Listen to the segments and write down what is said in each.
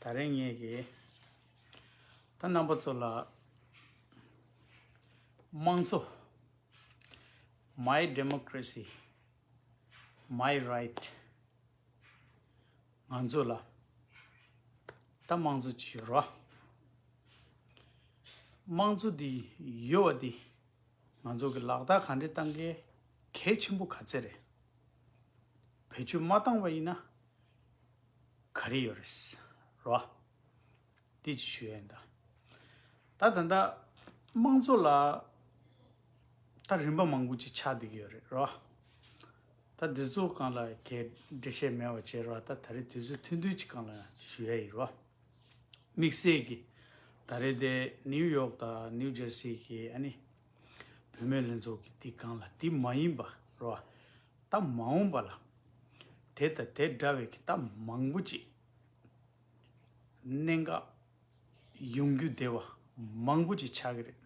ད་རེས་ངེད་ཀྱིས་ད་རྣམ་པ་ཚོ་ལ་དམངས་གཙོ། My Democracy My Right། ང་ཚོ་ལ་ད་དམངས་གཙོ་ཅིག་ཡོད་རོགས། དམངས་གཙོ་འདི་ཡོད་བ་འདི་ང་ཚོ་གི་ལག་བསྟར་ག་འདྲས་བཏང་གལ་ཆེན་པོ་ག་ཚད་རེད། བེད་སྤྱོད་མ་བཏང་བ་ཡིན་ན། ག་རེ་ཡོད་རེད། རོ་ཨ། དེ་ཅི་ཞུ་ཡོད་འདི། ད་ད་ལྟ་དམངས་གཙོ་ལ་ད་རིམ་པ་མང་པོ་ཅིག་ཆགས་བསྡད་ཀྱི་ཡོད་རེད་རོ་ཨ། ད་དེ་ཚོ་གང་ལ་གས་འབྲེལ་བྱས་མེད་བ་བྱས་རོ་ཨ་ད་ད་རེས་དེ་ཚོའི་མཐུན་མཐུན་ཅིག་གང་ལ་ཞུ་ཡ་ཡིན་རོ་ཨ། དམིགས་བསལ་གྱི་ད་རེས་དེ་ནིའུ་ཡོག་དང་ནིའུ་ཇར་སི་གྱི་ཨ་ནི་བུད་མེད་ལྷན་ཚོགས་ཀྱི་དེ་གང་ལ་དེ་མ་ཡིན་པ་རོ་ཨ། རྟགས་མ་འོངས་པ་ལ། དེ་དང་དེ་འདྲ་བའི་རྟགས་མང་པོ་ཅིག། གནད་འགག་ཡོང་རྒྱུ་དེ་བ་མང་པོ་ཅིག་ཆགས་ཀྱི་རེད།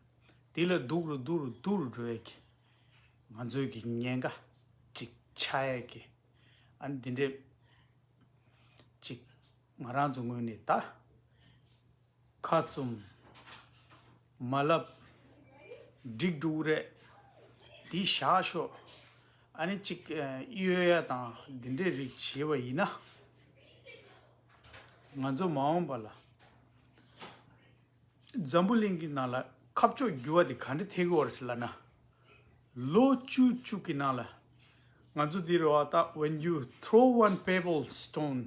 དེ་ལ་སྡུག་རུ་སྡུག་རུ་སྡུག་རུ་འགྲོ་ཡས་ཀྱི། ང་ཚོས་ཀྱི་ཉེན་ཁ་ཅིག་ཆགས་ཡས་ཀྱི། ཨ་ནི་དེ་འདྲས་ཅིག་ང་རང་ཚོ་ངོས་ནས་ད། ཁ་བཙུམ། མ་བསླབ། སྒྲིག་འགྲོ་འུ་རེད། འདི་བཞག་ཤོག། ཨ་ནི་གཅིག་གཡོལ་ཡ་དང་འདི་འདྲའི་རིགས་བྱེད་པ་ཡིན་ན། ང་ཚོ་མ་འོངས་པ་ལ། འཛམ་བུ་གླིང་གི་ནང་ལ་ཁ་ཕྱོགས་བསྒྱུར་བ་དེ་ག་འདྲ་ཐེག་འོར་སྲིད་ལ་ན། ལོ་བཅུ་བཅུ་གི་ནང་ལ། ང་ཚོ་འདི་རུ་བ་ད When you throw one pebble stone།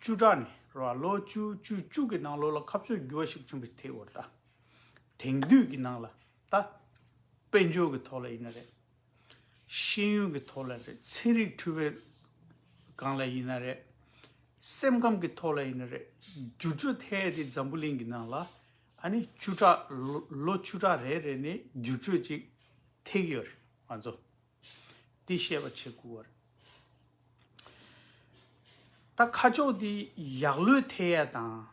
བཅུ་ཕྲག་ནི་ར་ལོ་བཅུ་བཅུ་བཅུ་གི་ནང་ལོ་ལ་ཁ་བཙོས་རྒྱུ་བ་ཞིག་བྱུང་བའི་དེའི་འོར་ད་དེང་དུས་ཀྱི་ནང་ལ་ད་དཔལ་འབྱོར་གྱི་ཐོག་ལ་ཡིན་ན་རེད། ཤེས་ཡོན་གྱི་ཐོག་ལ་རེད་ཚན་རིག་འཁྲུལ་བའི་སྒང་ལ་ཡིན་ན་རེད། སེམས་ཁམས་ཀྱི་ཐོག་ལ་ཡིན་ན་རེད་འགྱུར་འགྲོས་ཐལ་དེ་འཛམ་བུ་གླིང་གི་ནང་ལ་ཨ་ནི་བཅུ་ཕྲག་ལོ་བཅུ་ཕྲག་རེ་རེ་ནས་འགྱུར་འགྲོས་ཅིག་ཐེག་གི་ཡོད་རེད་ང་ཚོ། དེ་བཤད་པ་བྱེད་དགོས་བར། ད་ཁ་ཕྱོགས་དེ་ཡག་ལོས་ཐེ་ཡས་དང།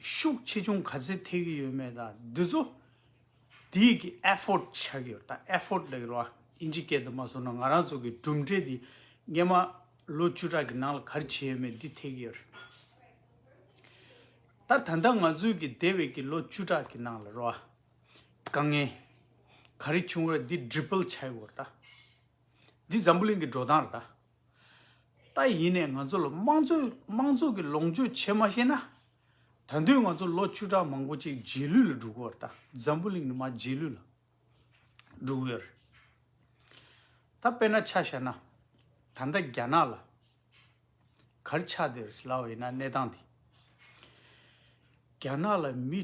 ཤུགས་ཆེ་ཆུང་ག་ཚད་ཐེ་གི་ཡོད་མེད་དང་དེ་ཚོ་དེ་ཡི་གི effort བྱ་གི་ཡོད་ད effort ལ་གི་རོ་ཨིན་ཇི་སྐད་དུ་མ་སོང་ན་ང་རང་ཚོ་གི་གྲུབ་འབྲས་དེ་སྔན་མ་ལོ་བཅུ་ཕྲག་གི་ནང་ལ་གར་བྱས་ཡོད་མེད་དེ་ཐེ་གི་ཡོད་རེད། ད་ད་ལྟ་ང་ཚོའི་གི་འདས་བའི་གི་ལོ་བཅུ་ཕྲག་གི་ནང་ལ་རོ་ཨ། དཀའ་ངལ་ག་རེ་བྱུང་རེད་འདི་འདྲི་སྤེལ་བྱས་ཡོད་ད། འདི་འཛམ་བུ་གླིང་གི་འགྲོ་སྟངས་རེད་ད། ད་ཡིན་ནས་ང་ཚོ་ལ་དམངས་གཙོའི་དམངས་གཙོ་གི་ལོངས་སྤྱོད་བྱེད་མ་ཤེས་ན། ད་དུས་ང་ཚོ་ལོ་བཅུ་ཕྲག་མང་པོ་ཅིག་རྗེས་ལུས་ལ་འགྲོ་གི་ཡོད་ད་འཛམ་བུ་གླིང་ནི་མ་རྗེས་ལུས་ལ་འགྲོ་གི་ཡོད་རེད་ད་དཔེར་ན་ཆ་བཞག་ན་ད་ལྟ་རྒྱ་ནག་ལ། གར་ཆག་དེར་སླ་བའི་ན་གནས་སྟངས་དེ། རྒྱ་ནག་ལ་མི་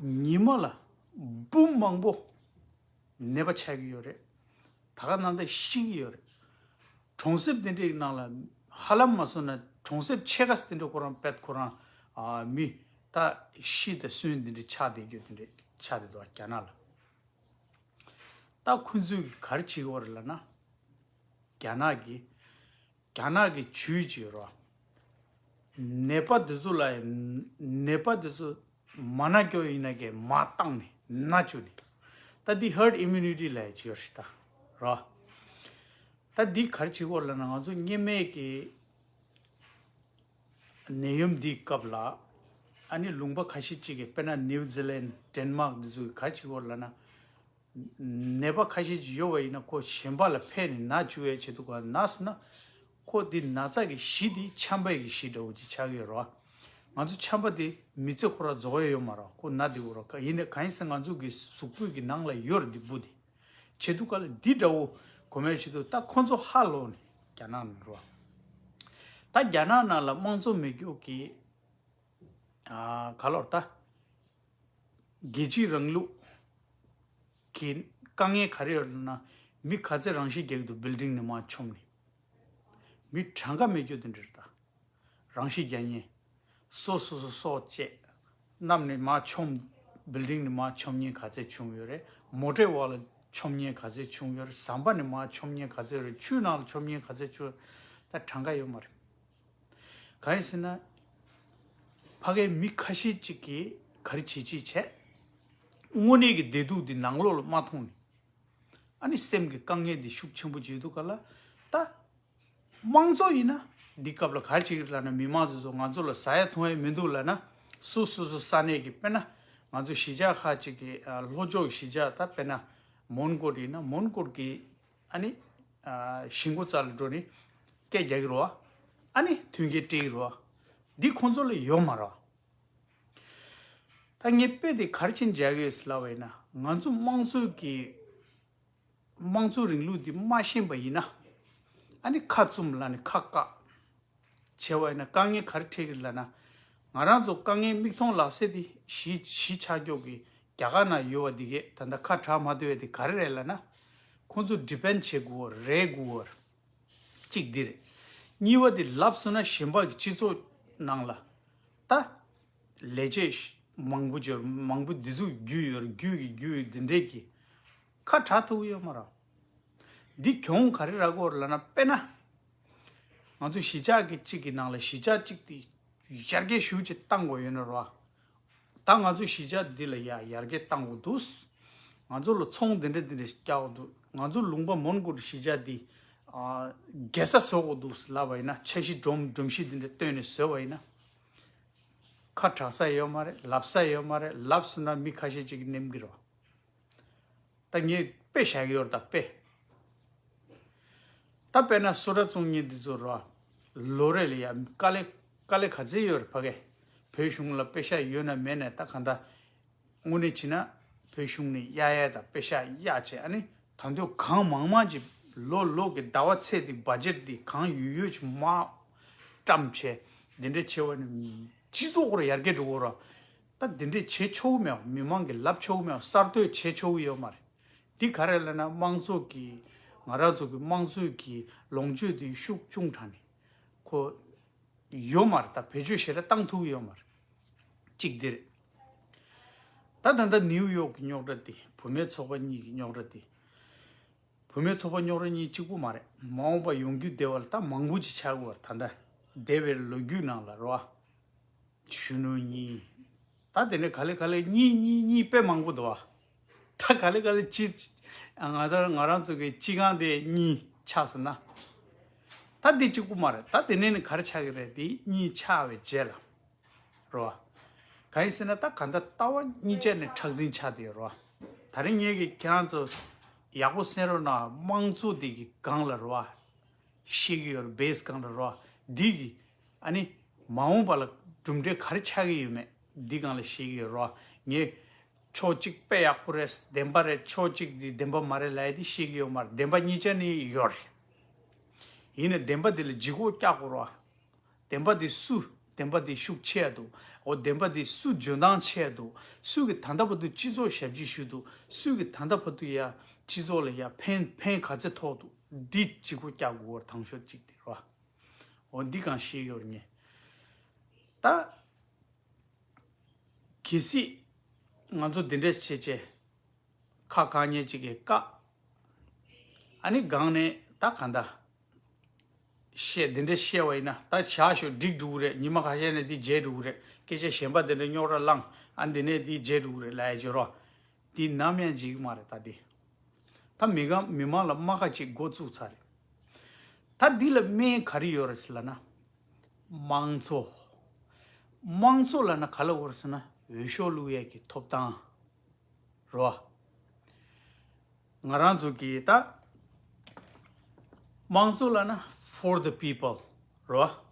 ཉིན་མ་ལ་འབུམ་མང་པོ་ནད་པ་ཆགས་ཀྱི་ཡོད་རེད། ད་ག་ནང་ད་ཤི་གི་ཡོད་རེད། གྲོང་གསེབ་དེ་འདྲའི་ནང་ལ་ཧ་ལམ་མ་སོན་ན་གྲོང་གསེབ་ཆེ་ཁ་དེ་འདྲ་ཁོ་རང་པད་ཁོ་རང་མི་ད་ཤི་ད་སོན་དེ་འདྲ་ཆགས་བསྡད་རྒྱུ་དེ་འདྲ་ཆགས་བསྡད་འདུག་རྒྱ་ནག་ལ། ད་ཁོ་ཚོས་གར་བྱེད་ཀྱི་བ་རེད་ལ་ན། རྒྱ་ནག་གི་རྒྱ་ནག་གི་ཇུས་གཅིག་རོགས། ནད་པ་འདི་ཚོ་ལ་ནད་པ་འདི་ཚོ་མ་ན་སྐྱོ་ཡིན་ན་ཀྱི་མ་བཏང་ནི་ན་ཆུ་ནི། ད་འདི herd immunity ལ་ཡི་ཇིའོ་ཧྲི་ད་རོགས། ད་འདི་གར་ཇི་སྐོར་ལ་ན་ང་ཚོ་གཉེན་མེད་ཀྱི་ནད་ཡོམ་འདི་སྐབས་ལ་ཨ་ནི་ལུང་པ་ཁ་ཤི་གཅིག་གི་དཔེར་ན New Zealand Denmark འདི་ཚོ་གི་གར་ཇི་སྐོར་ལ་ན་ནད་པ་ཁ་ཤས་ཀྱིས་ཡོ་བ་ཡིན་ན་ཁོ་གཞན་པ་ལ་ཕན་ནས་ན་བཅུ་བའི་བྱེད་དུ་གོ་ན་ཟུ་ན། ཁོ་འདི་ན་ཚ་གི་གཞི་འདི་ཆམ་པའི་གི་གཞི་འདྲ་བོ་ཅིག་ཆགས་ཀྱི་ཡོད་རོ། ང་ཚོ་ཆམ་པ་དེ་མི་ཚེ་ཁོ་ར་རྫོགས་ཡས་ཡོད་མ་རོ་ཁོ་ན་འདི་བོ་རོ་ཡིན་ནས་གང་ཡིན་ཟེར་ང་ཚོ་གི་གཟུགས་པོད་ཀྱི་ནང་ལ་ཡོད་རོ་འདི་བུ་འདི་བྱེད་དུ་ག་ལ་འདི་འདྲ་བོ་གོ་མའི་བྱེད་དུ་ད་ཁོ་ཚོ་ཧ་ལོ་ནས་རྒྱ་ནག་ནང་རོ། ད་རྒྱ་ནག་ནང་ལ་དམངས་གཙོ་མི་རྒྱུག་གི། ག་ལོར་ད། རྒྱལ་སྤྱིའི་རིང་ལུགས་ཀྱི་དཀའ་ངལ་ག་རེ་ཡོད་ལབ་ན་མི་ག་ཚད་རང་བཞིན་རྒྱག་གི་འདུག building ནས་མ་ཆོམ་ནས། མི་གྲངས་ཀ་མེད་སྐྱོ་དུ་འདྲིར་ལྟ། རང་བཞིན་རྒྱ་ཉན། སོ་སོ་སོ་སོ་བཅས་གནམ་ནས་མ་ཆོམ། building ནས་མ་ཆོམ་ཉེན་ག་ཚད་བྱུང་ཡོད་རེད་མོ་ཏྲའི་འོག་ལ་ཆོམ་ཉེན་ག་ཚད་བྱུང་ཡོད་རེད་ཟམ་པ་ནས་མ་ཆོམ་ཉེན་ག་ཚད་ཡོད་རེད་ཆུའི་ནང་ལ་ཆོམ་ཉེན་ག་ཚད་བྱུང་ཡོད་རེད་ད་གྲངས་ཀ་ཡོད་མ་རེད། གང་ཡིན་ཟེར་ན། ཕ་གའི་མི་ཁ་ཤས་ཅིག་གིས་ག་རེ་བྱེད་ཅེས་བྱས། དངོས་གནས་ཀྱི་བདེ་སྡུག་འདི་ནང་ལོགས་ལ་མ་མཐོང་ནས། ཨ་ནི་སེམས་ཀྱི་དཀའ་ངལ་འདི་ཤུགས་ཆེན་པོ་བརྗོད་འདུག་ག་ལ། ད། དམངས་གཙོ་ཡིན་ན། འདི་སྐབས་ལ་ག་རེ་བྱེད་ཀྱི་རེད་ལབ་ན་མི་དམངས་ཚོས་ཚོ་ང་ཚོ་ལ་ཟ་ཡ་འཐུང་ཡ་མི་འདུག་ལབ་ན། སུ་སོ་སོ་ས་གནས་ཀྱི་དཔེར་ན། ང་ཚོ་གཞིས་ཆགས་ཁག་ཅིག་གི་ལྷོ་ཕྱོགས་ཀྱི་གཞིས་ཆགས་ད་དཔེར་ན། མོན་གོར་ཡིན་ན་མོན་གོར་གྱི། ཨཱ་ནི། གཞི་མགོ་རྩ་ལ་འགྲོ་ནི། སྐད་རྒྱག་གི་རོ། ཨཱ་ནི། མཐུན་རྐྱེན་སྤྲད་ཀྱི་རོ། འདི་ཁོང་ཚོ་ལ་ཡོད་མ་རོ། ད་ངས་དཔེ་དེ་གར་ཕྱིན་འཇལ་ཡོད་སླ་བས་ན་ང་ཚོ་དམངས་གཙོའི་གི། དམངས་གཙོའི་རིང་ལུགས་འདི་སྨྲ་ཤེས་པ་ཡིན་ན། ཨཱ་ནི་ཁ་བཙུམ་ལ་ནི་ཁ་བཀག། བྱས་བ་ཡིན་ན་དཀའ་ངལ་ག་རེ་འཕྲད་ཀྱི་རེད་ལབ་ན། ང་རང་ཚོ་དཀའ་ངལ་མིག་མཐོང་ལག་ཟད་དེ་གཞིས་ཆགས་འཁྱོག་གི་རྒྱ་གར་ན་ཡོད་བ་འདི་གས་ད་ལྟ་ཁ་གྲགས་མ་བརྡོལ་བས་དེ་ག་རེ་རེད་ལབ་ན། ཁོང་ཚོ depend བྱེད་དགོས་བ་རེད་དགོས་བ་རེད། གཅིག་འདི་རེད། གཉིས་བ་དེ་ལབ་སོང་ན་གཞན་ཕག་གི་སྤྱི་ཚོགས་ནང་ལ་ད། ལས་བྱེད་མང་པོ་འབྱོར་མང་པོ་འདི་ཚོ་རྒྱུས་ཡོད་རེད་རྒྱུས་ཀྱི་རྒྱུས་འདི་འདྲས་ཀྱི། ཁ་གྲགས་ཐུབ་ཡོད་མ་རང། འདི་གྱོང་ག་རེ་རག་གོ་རེད་ལབ་ན་དཔེ་ན། ང་ཚོས་གཞིས་ཆགས་ཀྱི་གཅིག་གི་ནང་ལ་གཞིས་ཆགས་གཅིག་དེ་ཡར་རྒྱས་ཤུགས་ཆེ་གཏང་དགོས་ཡོད་ན་རོགས། ད་ང་ཚོའི་གཞིས་ཆགས་འདི་ལ་ཡ་ཡར་རྒྱས་གཏང་དགོས་འདུག། ང་ཚོ་ལ་ཚོང་འདི་འདྲ་འདི་འདྲ་ཞིག་རྒྱག་དགོས་འདུག་ང་ཚོ་ལུང་པ་མོན་གྷོ་རུ་གཞིས་ཆགས་འདི། རྒྱལ་ས་བཟོ་དགོས་འདུག་ལབ་པ་ཡིན་ན་ཆ་གཞི་སྒྲོམ་སྒྲོམ་གཞི་འདི་འདྲ་བཏོན་ནས་བཟོས་པ་ཡིན་ན། ཁ་གྲགས་ས་ཡོད་མ་རེད་ལབ་ས་ཡོད་མ་རེད་ལབ་སོང་ན་མི་ཁ་ཤས་གཅིག་གིས་ནེམ་གི་རོགས། ད་ངས་དཔེ་བྱ་གི་ཡོད་ད་དཔེ། ད་དཔེ་ན་སུ་ར་བཙུན་གཉིས་འདི་ཚོ་རོ། ལོ་རེ་ལ་ཡ་དཀའ་ལས་དཀའ་ལས་ག་ཚད་ཡོད་རེད་ཕ་གི། བོད་གཞུང་ལ་དཔེ་ཤག་ཡོད་ན་མེད་ན་ད་ག་འདྲ། དངོས་གནས་བྱས་ན་བོད་གཞུང་ནས་གཡག་གཡག་དང་དཔེ་ཤག་གཡག་བྱས་ཨ་ནི་ད་མདོས་གང་མང་མང་གྱི་ལོ་ལོ་གི་ཟླ་བ་ཚེས་འདི་བ་རྗེར་འདི་གང་ཡོད་ཡོད་ཀྱི་མ་བཀྲམ་བྱས་འདི་འདྲ་བྱས་བ་ནི་སྤྱི་ཚོགས་ཁོར་ཡར་རྒྱས་འགྲོ་གི་རོ། ད་འདི་འདྲས་བྱེད་ཆོག་གི་མེད་བ་མི་མང་གི་ལབ་ཆོག་གི་མེད་བ་གསར་གཏོད་བྱེད་ཆོག་གི་ཡོད་མ་རེད། འདི་ག་རེད་ལབ་ན་དམངས་གཙོ་གི་ང་ར་ཚོ་གི་དམངས་གཙོའི་གི་ལོངས་སྤྱོད་དེ་ཤུགས་ཅུང་དྲག་ནས་ཁོ་ཡོད་མ་རེད་ད་བེད་སྤྱོད་བྱེད་ར་བཏང་ཐུག་གི་ཡོད་མ་རེད། གཅིག་འདི་རེད། ད་ད་ལྟ་ནིའུ་ཡོག་གི་རྙོག་དྲ་དེ་བུ་མེད་ཚོགས་པ་གཉིས་གི་རྙོག་དྲ་དེ། བུ་མེད་ཚོགས་པ་རྙོག་དྲ་གཉིས་གཅིག་པོ་མ་རེད་མ་འོངས་པ་ཡོང་རྒྱུ་དེ་བ་ལ་ད་མང་པོ་ཅིག་བྱ་དགོས་བ་ད་ལྟ་འདས་པའི་ལོ་རྒྱུས་ནང་ལ་ར་བ། གཞོན་ནུ་གཉིས། ད་དེ་ནས་ག་ལེ་ག་ལེ་གཉིས་གཉིས་གཉིས་དཔེ་མང་པོ་འདུག་ཨ། ད་ག་ལེ་ག་ལེ་སྤྱི། ང་ཚོར་ང་རང་ཚོ་གི་སྤྱི་ཁང་དེ་གཉིས་ཆགས་སོང་ན། ད་དེ་གཅིག་པུ་མ་རེད་ད་དེ་ནས་ནི་ག་རེ་ཆགས་ཀྱི་རེད་དེ་གཉིས་ཆགས་བའི་རྗེས་ལ། རེད་བ། གང་ཡིན་ཟེར་ན་ད་ག་འདྲ་ལྟ་བ་གཉིས་ཆ་ནས་ཁྲག་འཛིང་ཆགས་དེ་ཡོད་རེད་བ། ད་རིང་ངེད་ཀྱིས་ཁྱེད་རང་ཚོ། ཡག་པོ་སེམས་རོགས་གནང་དམངས་གཙོ་དེ་གི་སྒང་ལ་རེད་བ། ཤེས་ཀྱི་ཡོད་རེད Base སྒང་ལ་རེད་བ། དེ་གི་ཨ་ནི། མ་འོངས་པ་ལ་གྲུབ་འབྲས་ག་རེ་ཆགས་ཀྱི་ཡོད་མེད་འདི་གང་ལ་ཤེས་ཀྱི་ཡོད་རོགས། ངས། ཕྱོགས་གཅིག་དཔེ་ཡག་པོ་རེད་བདེན་པ་རེད་ཕྱོགས་གཅིག་འདི་བདེན་པ་མ་རེད་ལད་དེ་ཤེས་ཀྱི་ཡོད་མ་རེད་བདེན་པ་གཉིས་ཆ་ནི་ཡོད་རེད། ཡིན་ནས་བདེན་པ་འདི་ལ་ལྗིད་ཁོག་རྒྱག་དགོས་རོགས། བདེན་པ་འདི་སུ་བདེན་པ་འདི་ཤུགས་ཆེ་ཡ་འདུག་འོ་བདེན་པ་འདི་སུ་འཇོན་ཐང་ཆེ་ཡ་འདུག་སུས་ཀྱི་ད་ལྟ་བར་དུ་སྤྱི་ཚོགས་ཞབས་ཕྱི་ཞུས་འདུག་སུས་ཀྱི་ད་ལྟ་བར་དུ་ཡ་སྤྱི་ཚོགས་ལ་ཡ་ཕན་ཕན་ག་ཚད་ཐོགས་འདུག་འདི་ལྗིད་ཁོག་རྒྱག་དགོས་བར་ཐང་ཤོར་གཅིག་འདི་རོགས། འོ་འདི་གང་ཤེས་ཡོར་ངེས་ད། གལ་སྲིད་ང་ཚོ་འདི་འདྲས་བྱེད་ཅེས། ཁ་གང་ཉེ་གཅིག་གིས་བཀག། ཨ་ནི་སྒང་ནས་ད་ག་འདྲ། ཞེས་འདི་འདྲས་བཤད་བ་ཡིན་ན་ད་བྱ་ཞོ་འགྲིག་འགྲོ་གི་རེད་ཉི་མ་ག་ཤེད་ནས་འདི་བརྗེད་འགྲོ་གི་རེད་སྐད་ཆ་གཞན་པ་འདི་འདྲས་རྙོག་ར་བསླངས་ཨ་འདི་ནས་འདི་བརྗེད་འགྲོ་གི་རེད་ལའེ་བརྗོད་རོགས། འདི་ནམ་ཡང་འཇིག་གི་མ་རེད་ད་འདི། ད་མི་གང་མི་མང་ལ་རྨ་ཁ་གཅིག་མགོ་བཙུགས་ཚར་རེད། ད་འདི་ལ་སྨན་ག་རེ་ཡོད་རེད་ཟེར་ལ་ན། དམངས་གཙོ། དམངས་གཙོ་ལ་ན་ག་ལ་འོར་ཟེར་ན་འོས་ཤོག་བླུགས་ཡས་ཀྱི་ཐོབ་ཐང། རེད་བ། ང་རང་ཚོ་གི་ད། དམངས་གཙོ་ལ་ན for the people། རེད་བ།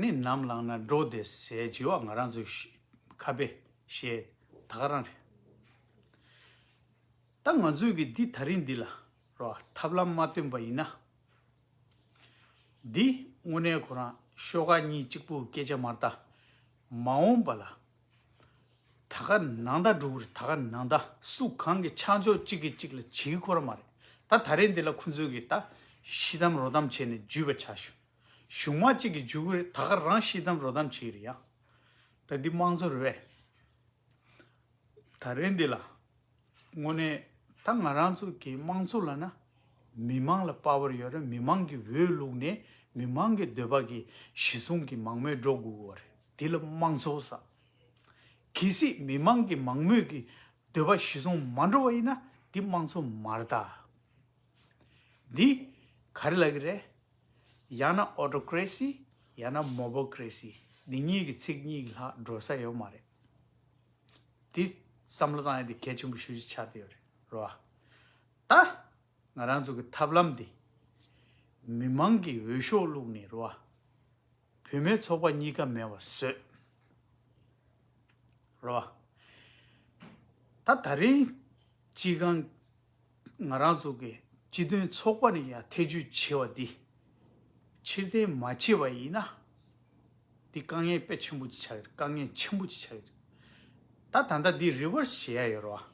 ནི་ནམ་བླངས་ན་འགྲོ་བདེ་ཟས་ལྗི་བ་ང་རང་ཚོའི་ཁ་དཔེ་ཞེས་ད་ག་རང་རེད། ད་ང་ཚོས་ཀྱི་འདི་ད་རིང་འདི་ལ་རོགས་ཐབས་ལམ་མ་བཏོན་པ་ཡིན་ན། འདི་དངོས་གནས་ཁོ་རང་ཤོ་ཀ་གཉིས་གཅིག་པུ་སྐད་ཆ་མར་ད་མ་འོངས་པ་ལ་ད་ག་ནང་ད་འགྲོ་གི་རེད་ད་ག་ནང་ད་སུ་གང་གི་ཆ་འཇོག་གཅིག་གིས་གཅིག་ལ་བྱེད་ཁོ་ར་མ་རེད་ད་ད་རེས་འདི་ལ་ཁོ་ཚོས་ཀྱི་ད་ཤི་དམ་རོ་དམ་བྱས་ནས་འཇུས་པ་བྱ་ཞོན། གཞུང་མ་གཅིག་གི་འཇུག་རེད་ད་ག་རང་ཤི་དམ་རོ་དམ་བྱེད་རེད་ཡ། ད་འདི་དམངས་གཙོ་རེད། ད་རེད་འདི་ལ། དངོས་གནས་ད་ང་རང་ཚོ་གི་དམངས་གཙོ་ལ་ན། མི་དམངས་ལ་དཔའ་བར་ཡོད་རེད་མི་དམངས་ཀྱི་འོས་བླུགས་ནས་མི་དམངས་ཀྱི་འདོད་པ་གི་གཞི་བཟུང་གི་མང་མོས་འགྲོ་དགོས་གོ་རེད་འདི་ལ་དམངས་གཙོ་ཟ། གལ་སྲིད་མི་དམངས་ཀྱི་མང་མོས་ཀྱི་འདོད་པ་གཞི་བཟུང་མ་འགྲོ་བ་ཡིན་ན་འདི་དམངས་གཙོ་མ་རེད་ད། འདི་ག་རེ་ལ་གི་རེད། ཡང་ན Autocracy ཡང་ན Mobocracy འདི་གཉིས་ཀྱི་ཚིག་གཉིས་ལྷག་འགྲོ་ས་ཡོད་མ་རེད། འདི་བསམ་བློ་བཏང་ཡོད་དེ་གལ་ཆེན་པོ་ཞུ་རྒྱུ་ཆགས་བསྡད་ཡོད་རེད་རོ་ཨ། ད་ང་རང་ཚོ་གི་ཐབས་ལམ་འདི། མི་མང་གི་འོས་ཤོག་བླུགས་ནས་རོ་ཨ། བུད་མེད་ཚོགས་པ་གཉིས་ཀ་མེད་བ་བཟོས། རོ་ཨ། ད་ད་རིང་སྤྱི་ཁང། ང་རང་ཚོ་གི་སྤྱི་དོན་ཚོགས་པ་ནས་ཀྱང་ཐེ་ཇུས་བྱས་བ་འདི་ཕྱིར་འཐེན་མ་བྱས་པ་ཡིན་ན། འདི་དཀའ་ངལ་དཔེ་ཆེན་པོ་ཅིག་ཆགས་ཡོད་རེད་དཀའ་ངལ་ཆེན་པོ་ཅིག་ཆགས་ཡོད་རེད། ད་ད་ལྟ་འདི Reverse བྱེད་ཡ་ཡོད་རེད་བ།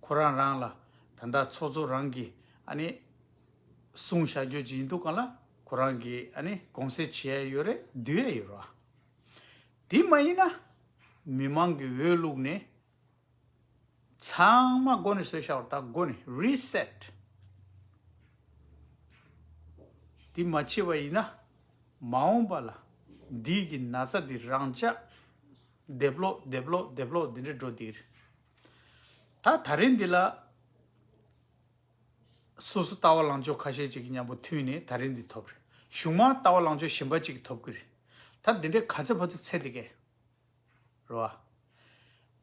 ཁོ་རང་རང་ལ་ད་ལྟ་ཚོགས་གཙོ་རང་གིས་ཨ་ནི་གསུང་བཤད་རྒྱོ་ཅིག་ཡིན་འདུག་ག་ལ་ཁོ་རང་གིས་ཨ་ནི་དགོངས་སེལ་བྱེད་ཡ་ཡོད་རེད་བསྡུ་ཡ་ཡོད་རེད་བ། དེ་མ་ཡིན་ན་མི་མང་གི་འོས་བླུགས་ནས་ཚང་མ་སྒོ་ནས་སོས་ཤ་བར་ད་སྒོ་ནས Reset། འདི་མ་བྱེད་པ་ཡིན་ན། མ་འོངས་པ་ལ་འདི་གི་ན་ཚ་འདི་རང་ཅག་སྡེབ་ལོག་སྡེབ་ལོག་སྡེབ་ལོག་འདི་འདྲ་འགྲོ་འདི་རེད། ད་ད་རེས་འདི་ལ་སོ་སོ་ལྟ་བ་ལང་ཕྱོགས་ཁ་ཤས་ཅིག་གི་མཉམ་པོ་མཐུན་ནས་ད་རེས་འདི་ཐོབ་རེད་གཞུང་མང་ལྟ་བ་ལང་ཕྱོགས་གཞན་པ་ཅིག་གི་ཐོབ་གི་རེད། ད་འདི་འདྲའི་ག་ཚད་ཕ་ཚུགས་ཚད་འདི་གས། རེད་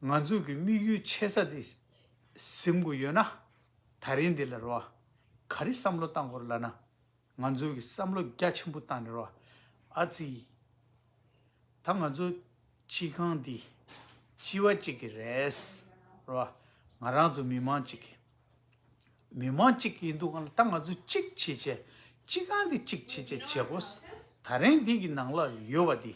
བ། ང་ཚོས་ཀྱི་དམིགས་ཡུལ་ཆེ་ས་དེ་གཟིམ་དགོས་ཡོད་ན། ད་རིང་འདི་ལ་རེད་བ། ག་རེ་བསམ་བློ་བཏང་དགོས་རེད་ལབ་ན། ང་ཚོས་ཀྱི་བསམ་བློ་རྒྱ་ཆེན་པོ་བཏང་ནས་རེད་བ། ཨ་ཙི། ད་ང་ཚོ་སྤྱི་ཁང་འདི་སྤྱི་བ་གཅིག་གི་རེད། རེད་བ། ང་རང་ཚོ་མི་མང་གཅིག་གི། མི་མང་གཅིག་གི་ཡིན་འདུག་ང་ད་ང་ཚོ་གཅིག་བྱེད་ཆེད་སྤྱི་ཁང་འདི་གཅིག་བྱེད་ཆེད་བྱེད་དགོས། ད་རིང་འདི་གི་ནང་ལ་ཡོད་བ་འདི།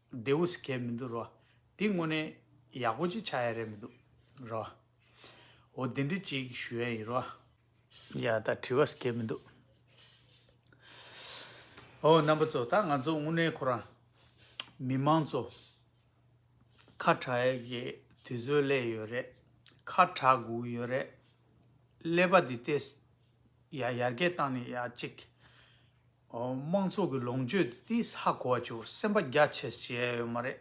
བདེ་བོ་ཞིག་གས་མི་འདུག་རོ། འདི་དངོས་གནས་ཡག་པོ་ཅིག་ཆགས་ཡ་རེད་མི་འདུག་རོ། འོ་འདི་འདྲི་ཅིག་ཞུ་ཡ་ཡིན་རོ། ཡ་ད་དྲི་བ་ཞིག་གས་མི་འདུག། ཨོ་རྣམ་པ་ཚོ་ད་ང་ཚོ་དངོས་གནས་ཁོ་རང། མི་མང་ཚོ། ཁ་གྲགས་ཡ་གི་དུས་ཚོད་སླེབས་ཡོད་རེད། ཁ་གྲགས་དགོས་ཀྱི་ཡོད་རེད། ཀླད་པ་འདི་ལྟས་ཡ་ཡར་རྒྱས་བཏང་ནས་ཡ་ཅིག། དམངས་ཚོགས་ཀྱི་ལོངས་སྤྱོད་དེ་དེ་ཧ་གོ་བ་ཆུ་སེམས་པ་རྒྱ་ཆེས་བྱས་ཡོད་མ་རེད།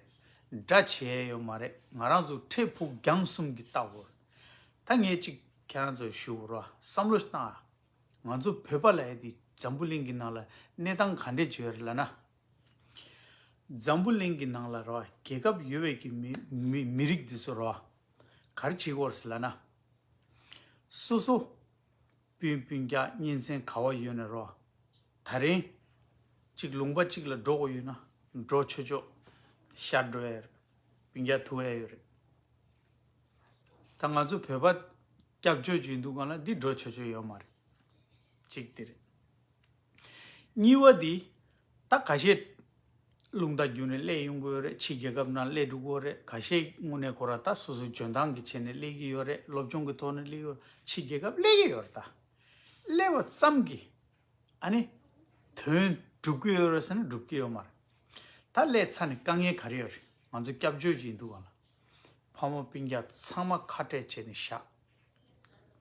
འདྲ་བྱས་ཡོད་མ་རེད་ང་རང་ཚོ་འཕྲལ་ཕུགས་རྒྱང་གསུམ་གྱི་ལྟ་བུར། ད་ངས་གཅིག་ཁྱེད་རང་ཚོར་ཞུ་བར་བསམ་བློ་བཏང་ཨ། ང་ཚོ་བོད་པ་ལ་ཡ་དེ་འཛམ་བུ་གླིང་གི་ནང་ལ་གནས་སྟངས་ག་འདྲས་བྱོས་རེད་ལ་ན། འཛམ་བུ་གླིང་གི་ནང་ལ་ར་བ་རྒྱལ་ཁབ་ཡོད་བས་ཀྱི་མི་རིགས་དེ་ཚོ་ར་བ་གར་བྱེད་དགོས་རེད་ལ་ན། སོ་སོ། སྤུན་སྤུན་རྒྱག་གཉེན་ཚན་ག་བ་ཡོད་ན་རོགས། ད་རིང། གཅིག་ལུང་པ་གཅིག་ལ་འགྲོ་དགོས་ཡོད་ན་འགྲོ་ཆོས་ཆོག་ཤར་འགྲོ་ཡ་རེད། སྤུན་རྒྱག་ཐུ་ཨེ་ཡོད་རེད། ད་ང་ཚོ་བོད་པ་སྐྱབས་བཅོལ་བྱོས་འདུག་ག་ལ་འདི་འགྲོ་ཆོས་ཆོས་ཡོད་མ་རེད། གཅིག་དེ་རེད། གཉིས་པ་འདི། ད་ག་ཤེད། རླུང་རྟ་རྒྱུན་རེ་གླས་ཡོང་གི་ཡོད་རེད་ཕྱི་རྒྱལ་ཁབ་ནང་གླས་འགྲོ་གི་ཡོད་རེད་ག་ཤེད་དངོས་གནས་ཁོ་ར་ད་སོ་སོའི་འཇོན་ཐང་གི་ཆེད་ནས་གླས་ཀྱི་ཡོད་རེད་སློབ་སྦྱོང་གི་ཐོག་ནས་གླས་ཀྱི་ཡོད་ཕྱི་རྒྱལ་ཁབ་གླས་ཀྱི་ཡོད་རེད་ད། གླས་བ་ཙམ་གྱིས། ཨ་ནི། དོན་འགྲུབ་ཀྱི་ཡོད་རེད་ཟེར་ན་འགྲུབ་ཀྱི་ཡོད་མ་རེད། ད་གླས་ཚར་ནས་དཀའ་ངལ་ག་རེ་ཡོད་རེད་ང་ཚོ་སྐྱབས་བཅོལ་གྱི་ཡིན་འདུག་ག་ལ། ཕ་མ་སྤུན་རྒྱ་ཚང་མ་ཁ་བྲལ་བྱས་ནས་བཞག་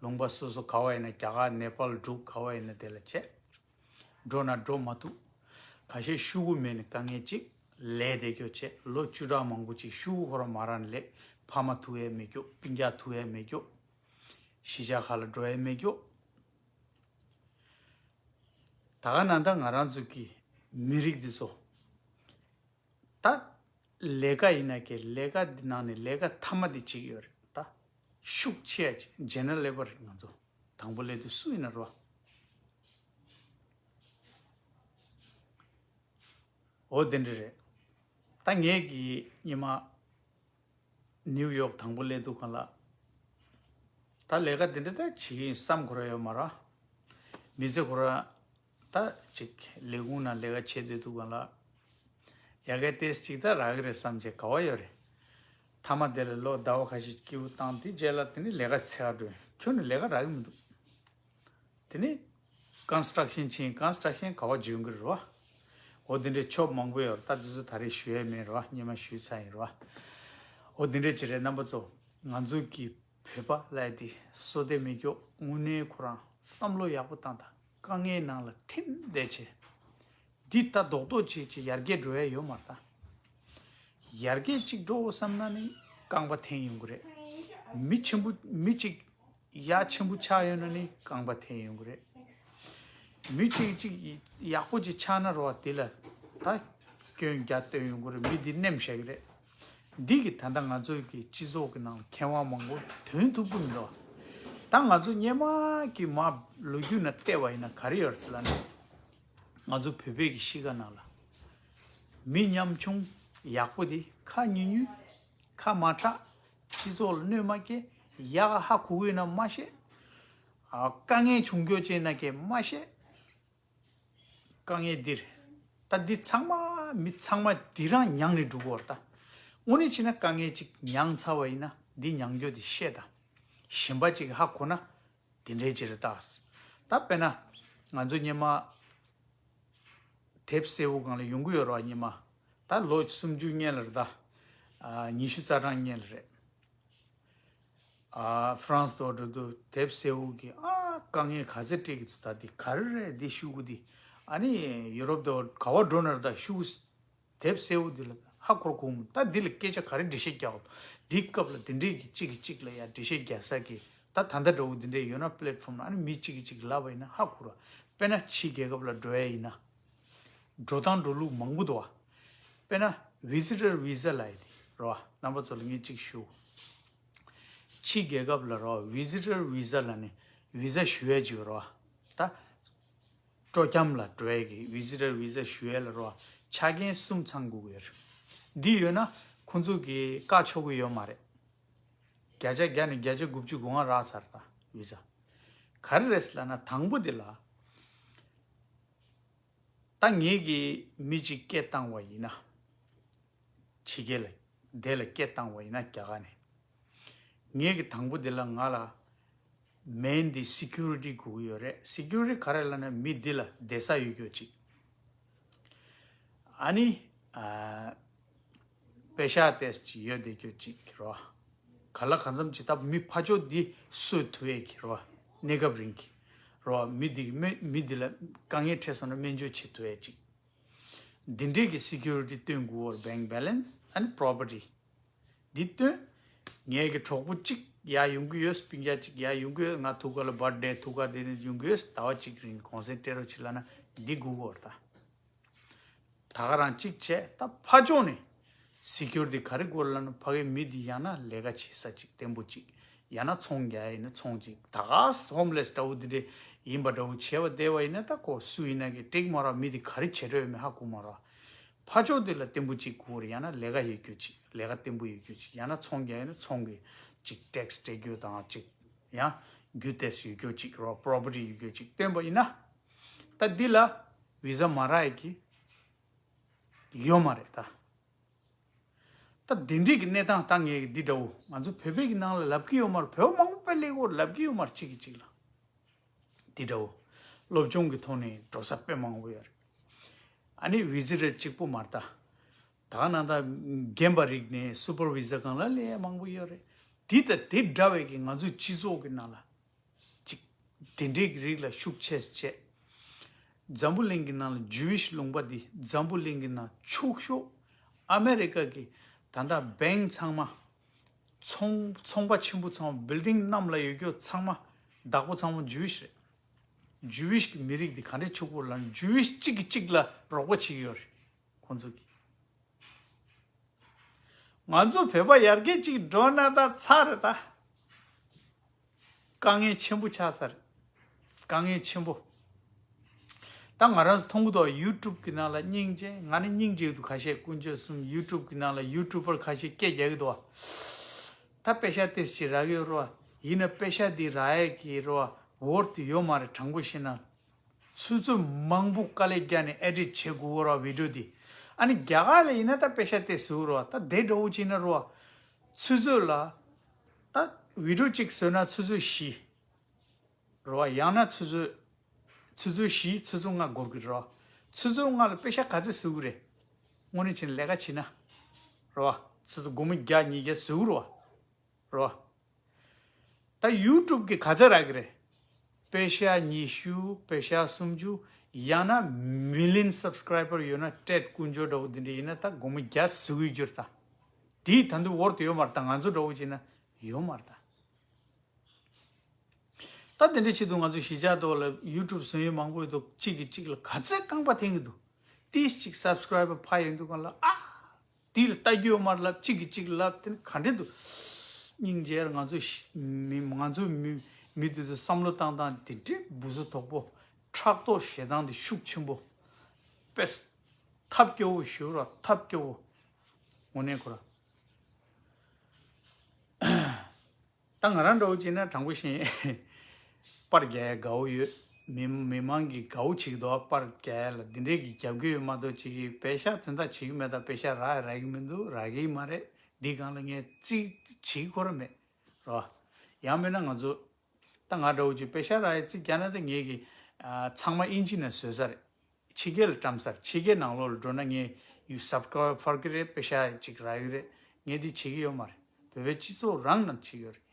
ལུང་པ་སོ་སོ་ག་བ་ཡིན་ན་རྒྱ་གར་ནེ་པཱལ་འབྲུག་ག་བ་ཡིན་ན་དེ་ལ་ཆས། འགྲོ་ན་འགྲོ་མ་ཐུབ། ག་ཤེད་ཤུ་བོ་མེད་ནི་དཀའ་ངལ་ཅིག་ལས་བདེ་སྐྱོ་ཆས་ལོ་བཅུ་ཕྲག་མང་པོ་ཅིག་ཤུ་བོ་ཧོ་ར་མ་ར་ནི་ལས་ཕ་མ་ཐུ་ཡས་མེད་སྐྱོ་སྤིན་རྒྱ་ཐུ་ཡས་མེད་སྐྱོ། གཞིས་ཆགས་ཁ་ལ་འགྲོ་ཡས་མེད་སྐྱོ། ད་ག་ན་ད་ང་རང་ཚོ་གི་མི་རིགས་འདི་ཚོ། ད། ལས་ཀ་ཡིན་ན་ཀྱི་ལས་ཀ་འདི་ནང་ནས་ལས་ཀ་མཐའ་མ་འདི་གཅིག་ཡོད་རེད་ད། ཤུགས་ཆེ་ཡ་ཆེ General Labour རེད་ང་ཚོ། དང་པོ་ལས་དུས་སུ་ཡིན་ན་རོ། འོ་དེ་འདྲ་རེད། ད་ངས་ཀྱི་ཉི་མ། New York དང་པོ་ལས་དུས་གང་ལ། ད་ལས་ཀ་འདི་འདྲ་ད་བྱེད་ཀྱི་ཡིན་བསམ་གོ་ར་ཡོད་མ་ར། མི་ཚེ་གོ་ར། ད་ཅིག་ལས་ཁུངས་ནང་ལས་ཀ་བྱེད་སྡོད་འདུག་གང་ལགས། ཡ་གལ་ཏེས་ཅིག་ད་རག་གི་རེད་བསམ་བྱས་ག་བ་ཡོད་རེད། མཐའ་མ་དེ་ལ་ལོ་ཟླ་བ་ཁ་ཤས་སྐྱིའུ་བཏང་དེ་རྗེས་ལ་དེ་ནས་ལས་ཀ་ཚེ་ག་བྲོས་ཁྱོད་ནས་ལས་ཀ་རག་གི་མི་འདུག། དེ་ནས། Construction བྱས Construction ག་བ་བརྗོད་གི་རེད་བ། འོ་དེ་འདྲའི་ཕྱོགས་མང་པོ་ཡོད་རེད་ད་དེ་ཚོ་ད་རེས་ཞུ་ཡས་མེད་རེད་བ་སྙེ་མ་ཞུས་ཚར་ཡིན་རེད་བ། འོ་དེ་འདྲའི་བྱས་རེད་རྣམ་པ་ཚོ་ང་ཚོ་གི་བོད་པ་ལ་དེ་སོ་དེ་མི་སྐྱོགས་དངོས་གནས་ཁོ་རང་བསམ་བློ་ཡག་པོ་བཏང་ད། དཀའ་ངལ་ནང་ལ་ཐིམ་བསྡད་ཆེ། འདི་ལྟ་རྡོག་རྡོག་བྱེད་བྱེད་ཡར་རྒྱས་འགྲོ་ཡ་ཡོད་མ་རྟ། ཡར་རྒྱས་གཅིག་འགྲོ་བསམ་ན་ནི་རྐང་པ་འཐེན་ཡོང་གི་རེད། མི་ཆེན་པོ་མི་གཅིག་ཡ་ཆེན་པོ་ཆགས་ཡོད་ན་ནི་རྐང་པ་འཐེན་ཡོང་གི་རེད། མི་གཅིག་གཅིག་ཡག་པོ་གཅིག་ཆགས་ན་རོགས་དེ་ལ་ད་སྐྱོན་རྒྱ་བཏོན་ཡོང་གི་རེད་མི་འདི་རྣེམས་ཞག་རེད། འདི་གི་ད་ལྟ་ང་ཚོའི་གི་སྤྱི་ཚོགས་ཀི་ནང་མཁས་དབང་མང་པོ་དོན་ཐུབ་ཀི་མི་འདུག་ད་ང་ཚོ་སྙེ་མ་གི་མ་ལོ་རྒྱུས་ནང་བལྟས་པ་ཡིན་ན་ག་རེ་ཡོད་སི་ལ་ནི་ང་ཚོ་བོད་པའི་གི་གཤིས་ཀ་ནང་ལ་མི་ཉམ་ཆུང་ཡག་པོ་དེ་ཁ་མྱུལ་མྱུལ་ཁ་མ་གྲགས་སྤྱི་ཚོགས་ལ་གནོད་མ་སྐྱེལ་ཡག་ཧ་གུ་ཡོད་ན་མ་བཤད་དཀའ་ངལ་བྱུང་འགྱོ་ཅེ་ན་ཀས་མ་བཤད་དཀའ་ངལ་འདིར། ད་འདི་ཚང་མ་མི་ཚང་མ་འདི་རང་མྱངས་ནས་འགྲོ་གི་འོར་ད། དངོས་གནས་ཕྱིན་ན་དཀའ་ངལ་ཅིག་མྱངས་ཚར་བ་ཡིན་ན་འདི་མྱངས་རྒྱུ་དེ་ཤེས་ད། གཞན་པ་ཅིག་གི་ཧ་གོ་ན། དེ་འདྲའི་ཅི་རེད་ད། ད་དཔེར་ན། ང་ཚོ་སྙེ་མ། དེབ་སེར་བོ་གང་ལ་ཡོང་གི་ཡོད་རོགས་སྙེ་མ། ད་ལོ་སུམ་ཅུ་སྙེ་ལ་རེད་ད། ཉི་ཤུ་རྩ་གྲངས་སྙེ་ལ་རེད། France དོ་འགྲོ་དུ་དེབ་སེ་འུག་གི་ཨ་དཀའ་ངལ་ག་ཚད་སྤྲད་གི་འདུག་ད་འདི་ག་རེ་རེད་འདི་ཤུག་གུ་འདི་ཨ་ནི Europe དོ་ག་བ་འགྲོ་ན་རེད་ད་ཤུག་གུ་དེབ་སེ་འུག་འདི་ལ་ཧ་གོ་ར་གོ་མི་འདུག་ད་འདི་ལ་སྐད་ཆ་ག་རེ་འདྲི་བཤད་རྒྱག་གོ་འདུག་འདི་སྐབས་ལ་འདི་འདྲས་གི་གཅིག་གི་གཅིག་ལ་ཡ་འདྲི་བཤད་རྒྱག་ས་གི་ད་ད་ལྟ་འདྲ་བོ་འདི་འདྲས་ཡོད་ན Platform ན་ཨ་ནི་མི་གཅིག་གི་གཅིག་ལབ་པ་ཡིན་ན་ཧ་གོ་ར་དཔེ་ན་ཕྱི་རྒྱལ་ཁབ་ལ་འགྲོ་ཡ་ཡིན་ན། འགྲོ་སྟངས་འགྲོ་ལུགས་མང་པོ་འདུག་དཔེར་ན Visitor Visa ལ་ཡི་རོ་རྣམ་པ་ཚོ་ལ་ངས་ཅིག་ཞུ། ཕྱི་རྒྱལ་ཁབ་ལ་རོ Visitor Visa ལ་ནི Visa ཞུ་ཡས་ཅིག་རོ་ད། སྤྲོ་སྐྱམ་ལ་འགྲོ་ཡས་ཀྱི Visitor Visa ཞུ་ཡས་ལ་རོ་ཆ་རྐྱེན་གསུམ་ཚང་དགོས་ཀྱི་ཡོད་རེད། འདི་ཡོད་ན་ཁོང་ཚོ་གིས་བཀག་ཆོག་གི་ཡོད་མ་རེད། བརྒྱ་ཆ་བརྒྱ་ནས་བརྒྱ་ཆ་དགུ་བཅུ་དགུ་ང་རག་ཚར་ད་བི་ཛ་ག་རེ་རེད་ལ་ན་དང་པོ་དེ་ལ། ད་ངེད་ཀྱི་མི་གཅིག་སྐད་བཏང་བ་ཡིན་ན། ཕྱི་རྒྱལ་ལ་བསྡད་ལ་སྐད་བཏང་བ་ཡིན་ན་རྒྱ་ག་ནས། ངེད་ཀྱི་དང་པོ་དེ་ལ་ང་ལ་མེ་འདི Security དགོས་ཀྱི་ཡོད་རེད Security ག་རེ་ལ་ན་མི་འདི་ལ་བསྡད་ས་ཡོད་རྒྱུ་གཅིག། ཨ་ནི། པེ་ཤཱ་ཏས་ཅི་ཡོད་བདེ་ཁྱོད་ཅིག་གི་རོ། ག་ལ་ག་མཚམས་ཅི་ལྟ་བུ་མི་ཕ་ཅོ་འདི་སོའི་དུ་བས་གི་རོ། གནས་སྐབས་རིང་གི་རོ། མི་འདི་གི་མི་འདི་ལ་དཀའ་ངལ་འཕྲད་སོང་ན་སྨན་བཅོས་བྱེད་དུ་བས་ཅིག། འདི་འདྲས་གི Security སྟོན་དགུ་བོར Bank Balance and Property འདི་སྟོན། ངས་གི་གྲོགས་པོ་ཅིག་ཡ་ཡོང་གི་ཡོད་སྤུན་རྒྱ་ཅིག་ཡ་ཡོང་གི་ཡོད་ང་ཐུགས་ཀ་ལ་འབར་འདྲའི་ཐུགས་ཀ་འདི་ཡོང་གི་ཡོད་ཟླ་བ་གཅིག་རིང་གོང་ཟས་སྤྲད་རོ་ཆི་ལ་ན་འདི་དགུ་བོར་ད། ད་ག་རང་གཅིག་བྱས་ད་ཕ་ལྗོངས་ནས་གཟིགས་ཁྱོར་དེ་ག་རེ་དགོས་ལ་ནི་ཕ་གའི་མི་དེ་ཡང་ན་ལས་ཀ་བྱེད་ས་ཅིག་བརྟན་པོ་ཅིག་ཡང་ན་ཚོང་རྒྱ་ཡིན་ན་ཚོང་ཅིག་ད་ག་ཧོམ་ལེས་འདྲ་བོ་དེ་འདྲས་ཡིན་པ་འདྲ་བོ་བྱས་པ་དེ་བ་ཡིན་ན་ད་གོ་སུ་ཡིན་ན་གི་དྲེག་མ་ར་མི་དེ་ག་རེ་བྱེད་འདྲ་བའི་མི་ཧ་གོ་མ་ར་ཕ་ལྗོགས་དེ་ལ་བརྟན་པོ་ཅིག་དགོས་ར་ཡང་ན་ལས་ཀ་ཡོད་ཁྱོ་ཅིག་ལས་ཀ་བརྟན་པོ་ཡོད་ཁྱོ་ཅིག་ཡང་ན་ཚོང་རྒྱ་ཡིན་ན་ཚོང་གི་ཅིག་ཏེག་སི་སྤྲད་ཁྱོ་དང་ཅིག་ཡང་རྒྱུ་ཏེ་སི་ཡོད་ཁྱོ་ཅིག་རོ་པྲོ་པི་ཏི་ཡོད་ཁྱོ་ཅིག་བཏོན་པ་ཡིན་ན། ད་འདི་ལ་བི་ཟ་མ་རག་གི་ཡོད་མ་རེད་ད། ད་འདི་འདྲིས་ཀྱི་གནས་སྟངས་ད་ངས་ཀྱི་འདི་འདྲ་བོ་ང་ཚོ་བོད་པས་ཀྱི་ནང་ལ་ལབ་ཀྱི་ཡོད་མ་རེད་བོད་པ་མང་པོ་དཔེ་ལེགས་པོར་ལབ་ཀྱི་ཡོད་མ་རེད་གཅིག་གིས་གཅིག་ལ་འདི་འདྲ་བོ་སློབ་སྦྱོང་གི་ཐོག་ནས་འགྲོ་ས་དཔེ་མང་པོ་ཡོད་རེད། ཨ་ནི་བི་ཟི་རེད་གཅིག་པོ་མ་རེད་ད། ད་ག་ནང་ད་རྒན་པ་རིགས་ནས་སུ་པར་བི་ཟ་གང་ལ་ལས་མང་པོ་ཡོད་རེད་དེ་ད་དེ་འདྲ་བས་ཀྱི་ང་ཚོའི་སྤྱི་ཚོགས་ཀྱི་ནང་ལ་ཅིག། དེ་འདྲའི་རིགས་ལ་ཤུགས་ཆེ་བྱས། འཛམ་བུ་གླིང་གི་ནང་ལ Jewish ལུང་པ་འདི་འཛམ་བུ་གླིང་གི་ནང་ཕྱུག་ཤོག་ཨ་མེ་རི་ཀ་གི་ད་ལྟ Bank ཚང་མ། ཚོང་ཚོང་པ་ཆེན་པོ་ཚང་མ Building གནམ་ལ་ཡོད་རྒྱུ་ཚང་མ་བདག་པོ་ཚང་མ Jewish རེད། Jewish གི་མི་རིགས་འདི་ག་འདྲའི་ཕྱུག་པོ་ལ Jewish གཅིག་གིས་གཅིག་ལ་རོགས་པ་བྱེད་ཀྱི་ཡོད་རེད་ཁོང་ཚོ་གིས། ང་ཚོ་བོད་པ་ཡར་རྒྱས་གཅིག་འགྲོ་ན་ད་ཚར་རེད་ད། དཀའ་ངལ་ཆེན་པོ་ཆགས་ཚར། དཀའ་ངལ་ཆེན་པོ། ད་ང་རང་ཚོ་མཐོང་གི་འདུག་ཨ YouTube གི་ནང་ལ་སྙིང་རྗེ་ང་ནི་སྙིང་རྗེ་གི་འདུག་ཁ་ཤས་ཀུན་སྤྱོད་གསུམ YouTube གི་ནང་ལ YouTuber ཁ་ཤས་སྐད་རྒྱག་གི་འདུག་ཨ། ད་པེ་ཤ་ཏེས་ཀྱི་རག་ཡོད་རོ་ཨ། ཡིན་ན་པེ་ཤ་འདི་རག་ཨེ་གི་རོ་ཨ Word དུ་ཡོད་མ་རེད་དྲང་པོ་བཤད་ན། ཚུལ་ཚོད་མང་པོ་དཀའ་ལས་རྒྱག་ནས Edit བྱེད་དགོས་གི་རོ་ཨ Video འདི། ཨ་ནི་རྒྱ་གར་ལ་ཡིན་ན་ད་པེ་ཤ་ཏེས་ཟེར་གི་རོ་ཨ་ད་དེ་འདྲ་བོ་བྱེད་ན་རོ་ཨ། ཚུལ་ཚོད་ལ། སྟག་འུའི་གྲུ་གཅིག་ཟོས་ན་ཆུ་ཚོད་བཞི་རོ། བ་ཡང་ན་ཆུ་ཚོད། ཆུ་ཚོད་བཞི་ཆུ་ཚོད་ལྔ་འགོར་གི་རོ། ཆུ་ཚོད་ལྔ་ལ་དཔེ་ཤ་ག་ཚད་ཟོས་གི་རེད། སྔོན་རིན་ཆེན་ལས་ཀ་བྱིན་ན། རོ། ཆུ་ཚོད་དགུ་མི་བརྒྱ་ཉིས་བརྒྱ་ཟོས་གི་རོ། རོ། ད་ཡུལ་གྲུབ་ཀྱི་ག་ཚད་རག་གི་རེད། དཔེ་ཤ་ཉི་ཤུ་དཔེ་ཤ་སུམ་ཅུ་ཡང་ན་མི་ལིན་སབ་སྐྲ་ཡིབ་པར་ཡོད་ན་སྤྲད་དཀོན་མཆོག་འདྲ་བོ་འདི་འདྲ་ཡིན་ན་ད་དགུ་མི་བརྒྱ་ཟོས་གི་རྒྱུར་ད། དེས་ད་འདུལ་བོར་དུ་ཡོད་མ་རེད་ད་ང་ཚོ་འདྲ་བོ་བྱས་ན་ཡོད་མ་རེད་ད། ད་དེ་འདྲའི་ཆེད་དུ་ང་ཚོ་གཞིས་ཆགས་ཐོག་ལ YouTube བཟོ་ཡུལ་མང་པོ་ཡོད་འདུག་གཅིག་གིས་གཅིག་ལ་ག་ཚད་རྐང་པ་འཐེན་གི་འདུག་ཏིས་གཅིག Subscriber འཕར་ཡོད་འདུག་ག་ལ་ཨ། དེ་ལ་བལྟ་རྒྱུ་ཡོད་མ་རེད་ལབ་གཅིག་གིས་གཅིག་ལབ་དེ་ནི་ག་འདྲས་འདུག། སྙིང་རྗེར་ང་ཚོ་མི་ང་ཚོ་མི་མི་དེ་ཚོ་བསམ་བློ་བཏང་སྟངས་དེ་འདྲའི་འབུ་བཟོ་དོག་པོ་ཕྲག་དོག་ཞེ་སྡང་དེ་ཤུགས་ཆེན་པོ། དཔེར། ཐབས་སྐྱོ་བོ་ཞུ་རོགས་ཐབས་སྐྱོ་བོ། དངོས་གནས་ཁོ་རང། ད་ང་རང་འདྲ་བོ་བྱེད་ན་དྲང་པོ་བཞིན། པར་རྒྱལ་ཡ་དགའ་བོ་ཡོད། མི་མི་མང་གི་དགའ་བོ་བྱེད་འདུག་པར་རྒྱལ་ཡ་ལ་འདི་འདྲའི་གི་རྒྱབ་གི་ཡོད་མ་གཏོགས་བྱེད་གི་བེ་ཤ་དེ་འདྲ་བྱེད་གི་མེད་ད་བེ་ཤ་རག་ཡ་རག་གི་མི་འདུག་རག་གི་མ་རེད་འདི་སྒང་ལ་ངས་བརྩིས་བྱེད་ཁོ་ར་མེད་ར་བ། ཡང་མེད་ན་ང་ཚོ་ད་ང་འདྲ་བོ་ཅིག་པེ་ཤ་ར་ཡའི་རྩིག་གྱ་ན་དེ་ངེད་ཀྱི། ཚང་མ་ཨིན་ཇི་ན་བཟོས་ས་རེད། ཕྱི་རྒྱལ་ལ་བཀྲམ་ས་རེད་ཕྱི་རྒྱལ་ནང་ལོགས་ལ་འགྲོ་ན་ངས་ཡུལ་ཟབ་ཁ་བ་ཕར་གི་རེད་པེ་ཤ་ཅིག་ར་ཡུལ་རེད་ངས་དེ་བྱེད་ཀྱི་ཡོད་མ་རེད་བོད་པའི་སྤྱི་ཚོགས་རང་ནང་བྱེད་ཡོད་རེད།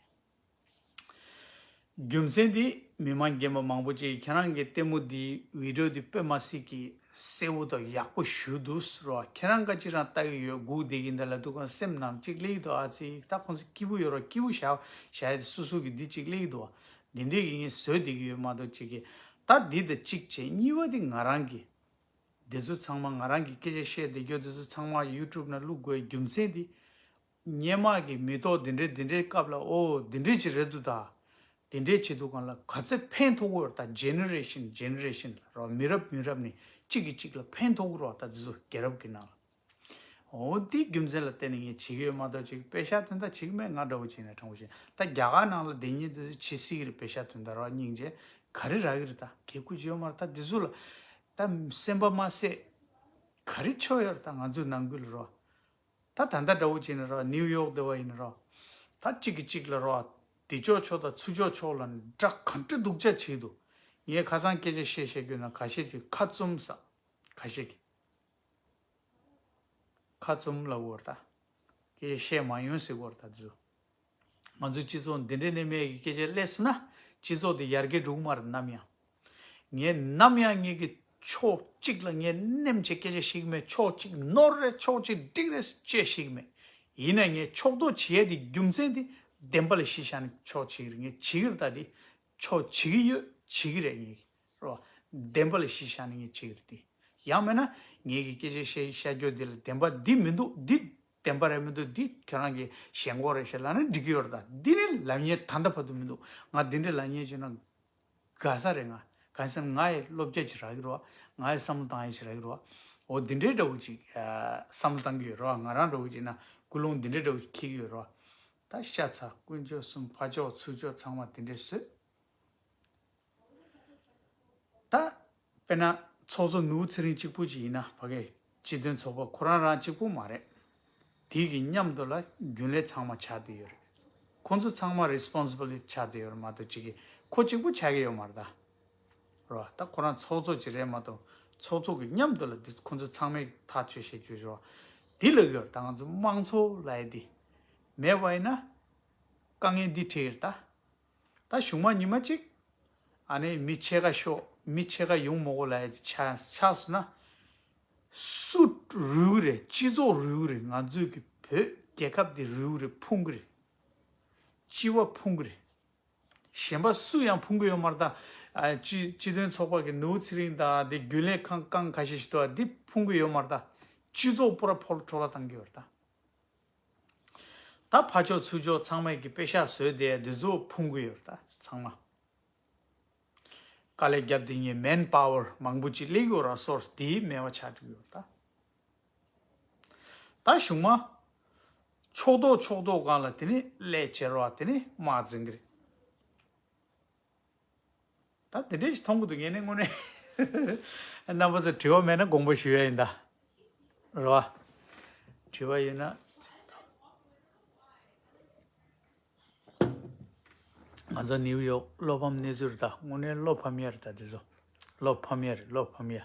རྒྱུ་མཚན་དེ་མི་མང་རྒན་པ་མང་པོ་ཅིག་ཁྱེད་རང་གི་ལྟད་མོ་འདིའི་བིད་འགྲོ་འདི་དཔེ་མ་སྲིད་ཀྱི་གསལ་བོ་དང་ཡག་པོ་ཞུ་འདུག་རོ་ཁྱེད་རང་ཀ་ཅི་རང་ལྟ་གི་ཡོད་སྒུག་བསྡད་ཀྱི་འདི་ལ་འདུག་གང་སེམས་ནང་གཅིག་གླེགས་འདུག་ཨ་ཙི་ད་ཁོང་ཚོ་སྐྱིད་པོ་ཡོད་རོགས་སྐྱིད་པོ་བཞག་བཞག་ཡོད་སུ་སུ་གི་འདི་གཅིག་གླེགས་འདུག་འདི་འདོད་ཀྱི་ངས་བཟོས་བསྡད་ཀྱི་ཡོད་མ་གཏོགས་གཅིག་གི་ད་འདི་དང་གཅིག་བྱས་གཉིས་པ་འདི་ང་རང་གི་འདི་ཚོ་ཚང་མ་ང་རང་གི་སྐད་ཆ་བཤད་བསྡད་རྒྱུ་འདི་ཚོ་ཚང་མ youtube ན་བླུག་དགོས་རྒྱུ་མཚན་འདི། སྙན་དམག་གིས་མི་ཏོག་འདི་འདྲའི་འདི་འདྲའི་བཀབ་ལ་ཨོ་འདི་འདྲའི་བྱེད་རེད་འདུག་ད། འདི་འདྲའི་བྱེད་འདུག་གང་ལ་ག་ཚད་ཕན་ཐོགས་འུར་བ་ད Generation Generation ལ་རོ་མི་རབས་མི་རབས་ནས་གཅིག་གིས་གཅིག་ལ་ཕན་ཐོགས་འུར་བ་ད་འདི་ཚོ་རྒྱལ་རབས་ཀྱི་ནང་ལ། ཨོ་འདིའི་རྒྱུ་མཚན་ལ་བརྟེན་ནས་ངས་བྱེད་ཀྱི་ཡོད་མ་གཏོགས་བྱེད་ཀྱི་བེ་ཤ་དོན་དག་བྱེད་ཀྱི་མེད་ང་འདྲ་བོ་བྱས་ནས་དྲང་པོ་བྱས་ད་རྒྱ་གར་ནང་ལ་འདི་གཉིས་འདི་ཚོ་བྱེད་སྲིད་ཀྱི་རེད་བེ་ཤ་དོན་དག་རོ་སྙིང་རྗེ་ག་རེ་རག་གི་རེད་ད་གས་ཁུ་བྱས་ཡོད་མ་རེད་ད་འདི་ཚོ་ལ་ད་སེམས་པ་མ་བསད་ག་རེ་ཆོད་ཡོད་རེད་ད་ང་ཚོའི་ནང་ཁུལ་ལ་རོ། ད་ད་ལྟ་འདྲ་བོ་བྱས་ནས་རོགས་ཨ་ནིའུ་ཡོག་སྡེ་བ་ཡིན་རོགས་ད་གཅིག་གི་གཅིག་ལ་རོགས་ཨ་དེ་ཅོག་ཆོག་ད་ཚུ་ཅོག་ཆོག་ལ་འདྲ་ག་འདྲ་སྡུག་ཅག་བྱས་འདུག་ངས་ཁ་ཚང་སྐད་ཆ་བཤད་བཤད་རྒྱུ་ན་ག་ཤེད་ཀྱི་ཁ་བཙུམ་ས་ག་ཤེད་ཀྱི་ཁ་བཙུམ་ལ་བོར་ད་སྐད་ཆ་བཤད་མ་ཡོང་ཟེར་བོར་ད་ཛུ། ང་ཚོའི་སྤྱི་ཚོགས་འདི་འདྲའི་གནས་མལ་གྱི་སྐད་ཆ་ཀླད་སུ་ན་སྤྱི་ཚོགས་འདི་ཡར་རྒྱས་འགྲོ་གི་མ་རེད་ནམ་ཡང། ངས་ནམ་ཡང་ངེད་ཀྱི་ཕྱོགས་གཅིག་ལ་ངས་ནེམ་བྱེད་སྐད་ཆ་བཤད་ཀྱི་མེད་ཕྱོགས་གཅིག་ནོར་རེད་ཕྱོགས་གཅིག་འགྲིག་རེད་ཅེས་བཤད་ཀྱི་མེད། ཡིན་ནས་ངས་ཕྱོགས་གཏོགས་བྱེད་ཡ་དེའི་རྒྱུ་མཚན་དེ་བདེན་པ་ལས་ཤེས་བྱ་ནི་ཕྱོགས་གཅིག་རེད་ངས་བྱེད་ཀྱི་རེད་ད་དེ་ཕྱོགས་བྱེད་ཀྱི་ཡོད་བྱེད་ཀྱི་རེད་ངེད་ཀྱི་རེད། བདེན་པ་ལས་ཤེས་བྱ་ནི་ངས་བྱེད་ཀྱི་རེད་དེ། ཡང་མེད་ན་ངེད་ཀྱི་སྐད་ཆ་བཤད་བཤད་རྒྱུ་འདི་ལ་བདེན་པ་འདི་མི་འདུག་འདི་བདེན་པ་རེད་མི་འདུག་འདི་ཁྱོད་རང་གི་ཞེན་ཁོག་རེད་ཞེས་ལབ་ན་འགྲིག་གི་ཡོད་རེད་ད། འདི་ནི་ལབ་ཉེས་ད་ལྟ་བར་དུ་མི་འདུག་ང་འདི་འདྲའི་ལབ་ཉེས་བྱས་ན་དགའ་ས་རེད་ང་གང་སེམས་ང་ཡི་བློ་བསྐྱེད་ཅིག་རག་གི་རོགས་ང་ཡི་བསམ་བློ་བཏང་ཡ་ཅིག་རག་གི་རོགས་འོ་འདི་འདྲའི་འདྲ་བོ་ཅིག་བསམ་བློ་བཏང་གི་ཡོད་རོགས་ང་རང་འདྲ་བོ་ཅིག་ན་ཀུན་སློང་འདི་འདྲའི་འདྲ་བོ་ཅིག་འཁྱིལ་གི་ཡོད་རོགས་ད་ཤ་ཚ་དཀོན་མཆོག་གསུམ་ཕ་མཆོག་ཚུལ་མཆོག་ཚང་མ་འདི་འདྲའི་བསོད། ད། དཔེར་ན། ཚོགས་གཙོ་ནོར་བུ་ཚེ་རིང་གཅིག་པུ་ཅིག་ཡིན་ན་ཕ་གས་སྤྱི་དོན་ཚོགས་པ་ཁོ་རང་རང་གཅིག་པུ་མ་རེད། དེ་གི་མཉམ་དུ་ལ་རྒྱུན་ལས་ཚང་མ་ཆགས་དེ་ཡོད་རེད། ཁོ་ཚོ་ཚང་མ Responsible ཆགས་དེ་ཡོད་རེད་མ་གཏོགས་གཅིག་གིས་ཁོ་གཅིག་པུ་ཆགས་ཀྱི་ཡོད་མ་རེད་ད། རོ། ད་ཁོ་རང་ཚོགས་གཙོ་གཅིག་རེད་མ་གཏོགས་ཚོགས་གཙོ་གི་མཉམ་དུ་ལ་དེ་ཁོ་ཚོ་ཚང་མས་ཐག་གཅོད་བྱེད་རྒྱུ་རེད། དེ་ལབ་ཡོད་རེད་ད་ང་ཚོ་དམངས་གཙོ་ལ་ཡེ་དེ་མེད་པ་ཡིན་ན་དཀའ་ངལ་འདི་འཕྲད་ཡོད་རེད་ད། ད་གཞུག་མ་ཉི་མ་གཅིག། ཨ་ནེ་མི་ཕྱེད་ཀ་ཤོག་མི་ཕྱེད་ཀ་ཡོང་མོ་གོ་ལ་ཡ་ཅི་ཆགས་སོ་ན། སུ་རུལ་གི་རེད་སྤྱི་ཚོགས་རུལ་གི་རེད་ང་ཚོས་ཀྱི་བོད་རྒྱལ་ཁབ་འདི་རུལ་གི་རེད་ཕུང་གི་རེད། སྤྱི་བ་ཕུང་གི་རེད། གཞན་པ་སུ་ཡང་ཕུང་གི་ཡོད་མ་རེད་ད། སྤྱི་དོན་ཚོགས་པ་གི་ནོའུ་ཚེ་རིང་དང་དེ་རྒྱུན་ལས་ཁང་རྐང་ཁ་ཤས་ཤིག་འདུག་ཨ་འདི་ཕུང་གི་ཡོད་མ་རེད་ད། སྤྱི་ཚོགས་པོ་ར་ཕོ་ར་ཁྲོ་ར་བཏང་གི་ཡོད་རེད་ད། ད་ཕ་ཕྱོགས་ཚུལ་ཕྱོགས་ཚང་མས་ཀྱི་དཔེ་ཤག་བཟོས་ཏེ་བདུད་རྩི་བོ་ཕུང་གི་ཡོད་ད་ཚང་མ། དཀའ་ལས་བརྒྱབ་དེ་ཉིད man power མང་པོ་ཅིག་གླིང་གི་ར་སོར་དེའི་སྨེ་བ་ཆགས་གྲིབ་ཡོད་ད། ད་གཞུག་མ། ཕྱོགས་མདོག་ཕྱོགས་མདོག་གང་ལ་དེ་ནི་ཀླད་བྱེར་བ་དེ་ནི་དམག་འཛིང་གི་རེད། ད་དེ་འདྲས་ཞིག་མཐོང་གི་འདུག་ངས་ནི་དངོས་གནས། རྣམ་པ་ཚོས་དྲི་བ་མེད་ན་དགོངས་པ་ཞུ་ཡ་ཡིན་ད། རེད་བ། དྲི་བ་ཡོད་ན། ང་ཚོ་ནིའུ་ཡོག་བློ་ཕམ་གནས་ཚུལ་རེད་ད་དངོས་གནས་བློ་ཕམ་ཡ་རེད་ད་དེ་ཚོ། བློ་ཕམ་ཡ་རེད་བློ་ཕམ་ཡ།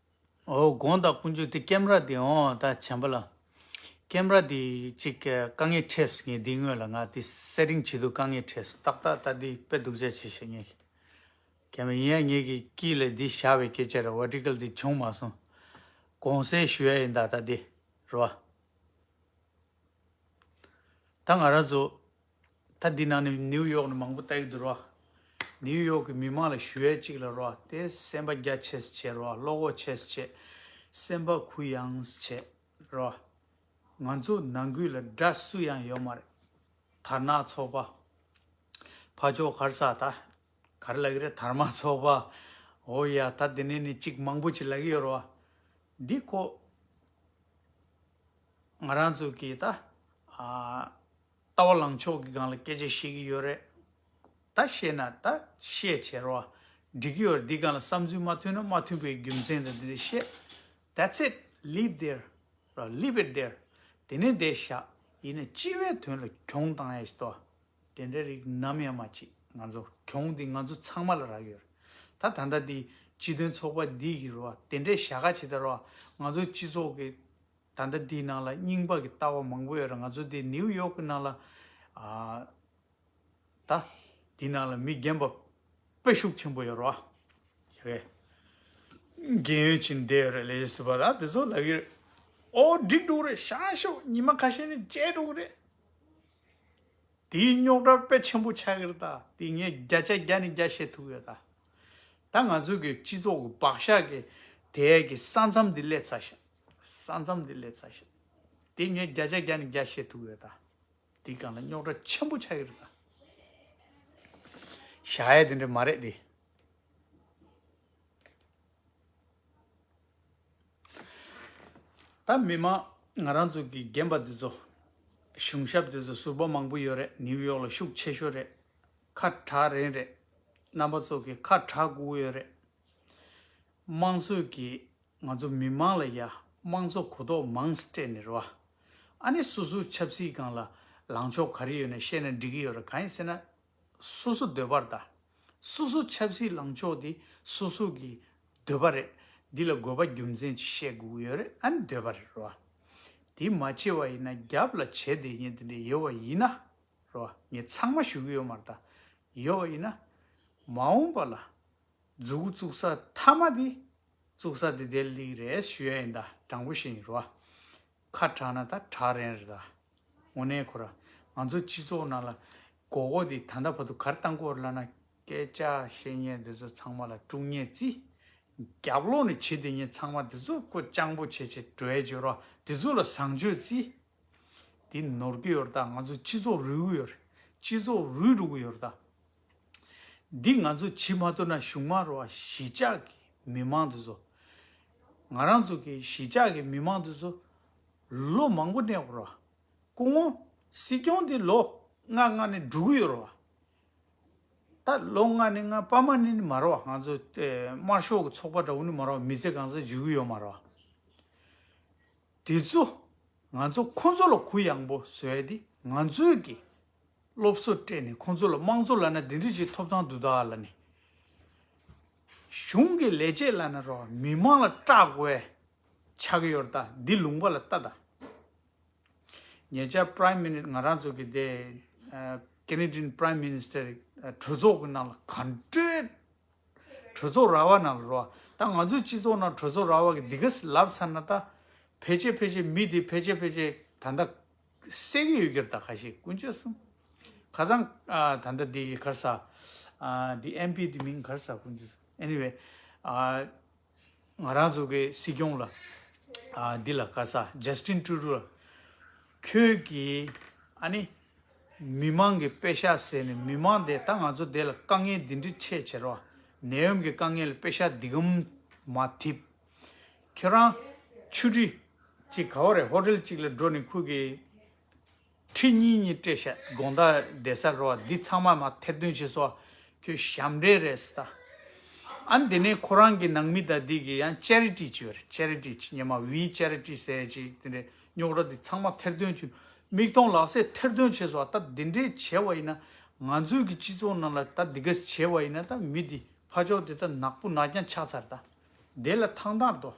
དགོངས་དག་ཀུན་སྤྱོད་དེ་ཀེམ་ར་དེ་འོང་ད་བྱམས་པ་ལགས། ཀེམ་ར་དེ་ཅིག་དཀའ་ངལ་འཕྲད་སོང་ངས་འདི་སྔོན་ལ་ང་དེ Setting བྱེད་དུས་དཀའ་ངལ་འཕྲད་སོང་ཏག་ཏག་ད་འདི་དཔེ་སྡུག་ཅག་བྱེད་ཤེས་ངེས་ཤིག་ཀེམ་ར་ཡིན་ཡང་ངེད་ཀྱི་དཀྱིལ་ལས་འདི་བཞག་པའི་སྐད་ཆ་རེད Vertical དེ་བྱུང་མ་སོང་དགོངས་སེལ་ཞུ་ཡ་ཡིན་ད་ད་འདི་རེད་བ། ད་ང་རང་ཚོ་ད་འདི་ནང་ནས་ནིའུ་ཡོག་ནས་མང་པོ་ལྟ་ཡི་འདུག་རོ། ནིའུ་ཡོག་གི་མི་མང་ལ་ཞུ་ཡས་གཅིག་ལ་རོ་དེ་སེམས་པ་རྒྱ་ཆེས་བྱེད་རོ་བློ་ཁོག་ཆེས་བྱེད། སེམས་པ་གུ་ཡངས་བྱེད་རོ། ང་ཚོ་ནང་ཁུལ་ལ་དགྲ་སུ་ཡང་ཡོད་མ་རེད། དར་ནག་ཚོགས་པ། ཕ་ཅོག་གར་ས་ད་གར་ལ་གི་རེད་དར་མ་ཚོགས་པ། འོ་ཡ་ད་འདི་ནས་ནི་གཅིག་མང་པོ་གཅིག་ལ་གི་ཡོད་རོ། འདི་ཁོ། ང་རང་ཚོ་གི་ད། ལྟ་བ་ལངས་ཕྱོགས་ཀྱི་སྒང་ལ་སྐད་ཆ་བཤད་ཀྱི་ཡོད་རེད། ད་བཤད་ན་ད་བཤད་བྱས་རོགས་ཨ། འགྲིག་གི་ཡོད་རེད་འདི་སྒང་ལ་བསམ་ཚུལ་མ་མཐུན་ན་མ་མཐུན་པའི་རྒྱུ་མཚན་དང་འདི་འདྲ་བཤད། That's it leave there རོགས leave it there དེ་ནས་འདས་བཞག་ཡིན་ན་སྤྱི་བའི་དོན་ལ་གྱོང་གཏང་ཡས་ཏོ། དེ་འདྲ་རིགས་ནམ་ཡང་མ་བྱེད་ང་ཚོ་གྱོང་འདི་ང་ཚོ་ཚང་མ་ལ་རག་ཡོད་རེད་ད་ད་ལྟ་འདི་སྤྱི་དོན་ཚོགས་པ་འདི་གི་རོགས་ཨ་དེ་འདྲས་བྱ་ག་བྱེད་ད་རོགས་ཨ་ང་ཚོ་སྤྱི་ཚོགས་ཀྱི་ད་ལྟ་འདིའི་ནང་ལ་རྙིང་དཔག་གི་ལྟ་བ་མང་པོ་ཡོད་རེད་ང་ཚོ་འདི་ནིའུ་ཡོག་གི་ནང་ལ་ད། འདི་ནང་ལ་མི་རྒན་པ་དཔེ་ཤུགས་ཆེན་པོ་ཡོད་རེད་བ། རེད། རྒན་ཡོལ་ཕྱིན་བསྡད་ཡོད་རེད་ལས་བྱེད་ཟུར་པ་དག་དེ་ཚོ་ལ་གི་རེད། ཨོ་འགྲིག་འགྲུག་རེད་ཤང་ཤོག་ཉི་མ་ཁ་ཤས་ནི་བཅད་འགྲུག་རེད། དེའི་རྙོག་དྲ་དཔེ་ཆེན་པོ་ཆགས་ཀྱི་རེད་ད་དེ་ངས་བརྒྱ་ཆ་བརྒྱ་ནས་བརྒྱ་བཤད་ཐུབ་ཡོད་ད། ད་ང་ཚོ་གི་སྤྱི་ཚོགས་ཀྱི་བག་ཞག་གི་དེའི་གི་ས་མཚམས་འདི་སླེབས་ཚར་ཞིང། ས་མཚམས་དེ་ལས་ཚ་ཞེས། དེ་ངས་བརྒྱ་ཆ་བརྒྱ་ནས་བརྒྱ་བཤད་ཐུབ་ཡོད་ད། དེའི་སྒང་ལ་རྙོག་དྲ་ཆེན་པོ་ཆགས་ཡོད་རེད་ད། བྱ་ཡས་དེ་འདྲ་མ་རེད་དེ། ད་མི་མང་ང་རང་ཚོ་གི་རྒན་པ་དེ་ཚོ། གཞུང་ཞབས་དེ་ཚོ་ཟུར་པ་མང་པོ་ཡོད་རེད་ནིའུ་ཡོག་ལ་ཤུགས་ཆེ་ཤོས་རེད། ཁ་གྲག་རན་རེད། རྣམ་པ་ཚོ་གི་ཁ་གྲག་སྒུག་ཡོད་རེད། དམངས་སྲོལ་གྱི་ང་ཚོ་མི་མང་ལ་ཡ་དམངས་ཚོ་གོ་རྟོགས་མང་སྤྲད་ནི་རེད་བ། ཨ་ནི་སོ་སོའི་ཆབ་སྲིད་སྒང་ལ་ལངས་ཕྱོགས་ག་རེ་ཡོད་ན་བཤད་ན་འགྲིག་གི་ཡོད་རེད་གང་ཡིན་ཟེར་ན། སོ་སོ་འདོད་པར་དང། སོ་སོ་ཆབ་སྲིད་ལངས་ཕྱོགས་དེ་སོ་སོ་གི་འདོད་པ་རེད། འདི་ལ་དགོས་པ་རྒྱུ་མཚན་ཅིག་བཤད་དགོས་ཡོད་རེད་ཨ་ནི་འདོད་པ་རེད་རེད་བ། དེ་མ་བྱས་བ་ཡིན་ན་རྒྱབ་ལ་བྱས་བསྡད་ཉེན་དེ་འདྲ་ཡོད་བ་ཡིན་ན། རེད་བ། ངས་ཚང་མ་ཞུ་གི་ཡོད་མ་རེད་ད། ཡོད་བ་ཡིན་ན། མ་འོངས་པ་ལ། རྫུ་གུ་བཙུགས་ས་མཐའ་མ་དེ་བཙུགས་ས་དེ་དེ་ལིག་རེད་ཞུ་ཡ་ཡིན་ད་དྲང་པོ་བཤད་ཡིན་རོ་ཨ། ཁ་དྲག་ན་ད་དྲག་རན་རེད་ད། དངོས་གནས་ཁོ་ར་ང་ཚོ་སྤྱི་ཚོགས་ནང་ལ་མགོ་སྐོར་དེ་ད་ལྟ་བར་དུ་གར་བཏང་སྐོར་བླ་ན་སྐད་ཆ་བཤད་ཉན་དེ་ཚོ་ཚང་མ་ལ་དཀྲུག་ཉན་རྩིས་རྒྱབ་ལོག་ནས་བྱེད་དེ་ཉིན་ཚང་མ་དེ་ཚོ་སྐོར་སྤྱང་པོ་བྱེད་བྱེད་བྲོ་བྱེད་རོ་དེ་ཚོ་ལ་བཟང་སྤྱོད་རྩིས། དེ་ནོར་གི་ཡོད་ད་ང་ཚོ་སྤྱི་ཚོགས་རུལ་གི་ཡོད་རེད་སྤྱི་ཚོགས་རུལ་འགྲོ་གི་ཡོད་ད། འདི་ང་ཚོ་བྱི་མ་ཐུབ་ན་གཞུང་མ་རོ་བ་གཞི་ཆགས་ཀྱི་མི་མང་དེ་ཚོ། ང་རང་ཚོ་གི་གཞི་ཆགས་ཀྱི་མི་མང་དེ་ཚོ། ལོ་མང་པོ་གནས་པོ་རོ་བ་སྐུ་ངོ་སྲིད་སྐྱོང་དེ་ལོ་ལྔ་ལྔ་ནས་འགྲོ་གི་ཡོད་རོ་བ། ད་ལོ་ལྔ་ནས་ལྔ་པ་མ་ནི་མ་རོ་བ་ང་ཚོ་དམར་ཤོག་གི་ཚོགས་པ་འདྲ་བོ་ནི་མ་རོ་བ་མི་ཚེ་གང་ས་འཇུག་གི་ཡོད་མ་རོ་བ། དེ་ཚོ་ང་ཚོ་ཁོ་ཚོ་ལ་གུ་ཡངས་པོ་བཟོས་ཏེ་ང་ཚོས་ཀྱི་སློབ་གསོ་སྤྲད་ནས་ཁོ་ཚོ་ལ་དམངས་གཙོ་ལ་ན་དེ་འདྲི་ཞིག་ཐོབ་ཐང་དུ་ད་ལ་ནི་གཞུང་གི་ལས་བྱེད་ལ་ན་རོགས་མི་དམངས་ལ་སྐྲག་དགོས་ཆགས་ཡོད་ད་འདི་ལུང་པ་ལ་ལྟ་ད། ཉེ་ཆར Prime Minister ང་རང་ཚོ་གི་དེ Canadian Prime Minister གྲོས་ཚོགས་གི་ནང་ལ་ག་འགྲོས། གྲོས་ཚོགས་ར་བ་རྣམས་ལ་རོ། ད་ང་ཚོའི་སྤྱི་ཚོགས་ནང་གྲོས་ཚོགས་ར་བ་གི་འདི་ག་ལབ་ཚར་ན་ད། ཕལ་ཆེར་ཕལ་ཆེར་མི་འདི་ཕལ་ཆེར་ཕལ་ཆེར་ད་ལྟ། བསད་གི་ཡོད་གྱུར་ད་ག་ཞིག་ཀུན་སྤྱོད་གསུམ། ཁ་ཚང། ད་ལྟ་འདི་གར་ཟ། འདི MP འདི་མིང་གར་ཟ་ཀུན་སྤྱོད་གསུམ anyway། ང་རང་ཚོ་གི་སྲིད་སྐྱོང་ལ། འདི་ལ་བཀའ་ས Justin Trudeau ལ། ཁྱོད་ཀྱིས་ཨ་ནི། མི་མང་གི་པེ་ཤ་ཟེར་ནས་མི་མང་དེ་ད་ང་ཚོ་དེ་ལ་དཀའ་ངལ་འདི་འདྲི་འཕྲད་བྱེད་རོགས། ནད་ཡོམ་གི་དཀའ་ངལ་པེ་ཤ་འདི་གམ་མ་ཐིབ། ཁྱོད་རང། ཆུ་ཁྲི། གཅིག་ག་བ་རེད་ཧོ་ཏེལ་གཅིག་ལ་འགྲོ་ནས་ཁོས་ཀྱི། ཁྲི་གཉིས་གཉིས་སྤྲད་བཤད་དགོངས་བརྡ་འདེད་ས་རེད་བ་འདི་ཚང་མ་མ་ཐེར་འདོན་བྱེད་སོ་ཁྱོད་ཞབས་འདྲེན་རེད་སི་ད། ཨན་དེ་ནས་ཁོ་རང་གི་ནང་མི་དག་འདི་གི་ཡང Charity བྱེད་རེད Charity ཅིག་ཉི་མ་བིའི Charity ཟེར་ཡ་ཅིག་དེ་འདྲའི་རྙོག་དྲ་འདི་ཚང་མ་ཐེར་འདོན་བྱོས་མིག་མཐོང་ལག་ཟད་ཐེར་འདོན་བྱེད་སོ་ད་འདི་འདྲའི་བྱེད་བ་ཡིན་ན་ང་ཚོའི་གི་སྤྱི་ཚོགས་ནང་ལ་ད་འདི་ག་བྱེད་བ་ཡིན་ན་ད་མི་འདི་ཕ་ཅོག་འདི་ད་ནག་པོ་ནག་རྐྱང་ཆགས་ཚར་ད་འདི་ལ་ཐང་ཐང་དོ།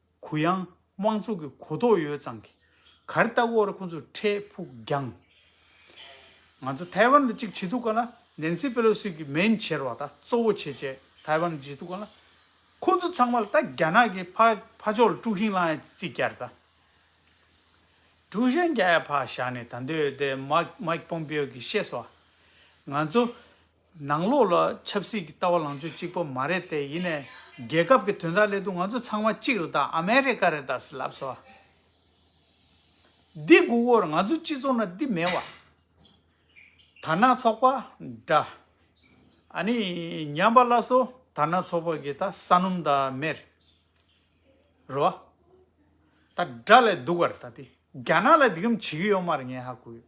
གུ་ཡངས་དབང་ཚུགས་ཀྱི་གོ་རྟོགས་ཡོད་ཙང་གི་གར་ལྟ་བུ་བར་ཁོང་ཚོས་འཕྲལ་ཕུགས་རྒྱང། ང་ཚོ་ཐའེ་ཝན་ལ་གཅིག་བྱེད་ཐུབ་ག་ལ Nancy Pelosi གི་མེན་ཆེར་བ་ད་གཙོ་བོ་བྱེད་བྱེད་ཐའེ་ཝན་ལ་བྱེད་ཐུབ་ག་ལ། ཁོང་ཚོ་ཚང་མ་ལ་ད་རྒྱ་ནག་གི་ཕ་ཕ་ཕྱོགས་ལ་དཀྲུགས་ཤིང་བསླངས་ཡ་རྩིས་བསྐྱར་ད་དཀྲུགས་ཤིང་བསྐྱར་ཡ་ཕ་བཞག་ནས་ད་འདོད་དེ Mike Pompeo གིས་ཤེས་སོ། ང་ཚོ། ནང་ལོགས་ལ་ཆབ་སྲིད་ཀྱི་ལྟ་བ་ལང་ཚོ་གཅིག་པོ་མ་རེད་དེ་ཡིན་ནས་རྒྱལ་ཁབ་ཀྱི་དོན་དག་སླད་དུ་ང་ཚོ་ཚང་མ་གཅིག་རེད་དང་ཨ་མེ་རི་ཀ་རེད་དང་སི་ལབ་སོ། འདི་དགུ་བོར་ང་ཚོ་སྤྱི་ཚོགས་ན་འདི་མེད་བ། དར་ནག་ཚོགས་པ་འདྲ། ཨ་ནི་ཉམས་པ་སླ་སོ་དར་ནག་ཚོགས་པ་གི་ད་ས་སྣུམ་ད་མེར་རོ་བ། ད་དགྲ་ལས་སྡུག་བར་ད་དེ་རྒྱ་ནག་ལ་འདི་གམ་བྱེད་ཀྱི་ཡོད་མ་རེད་ངས་ཧ་གོ་ཡོད།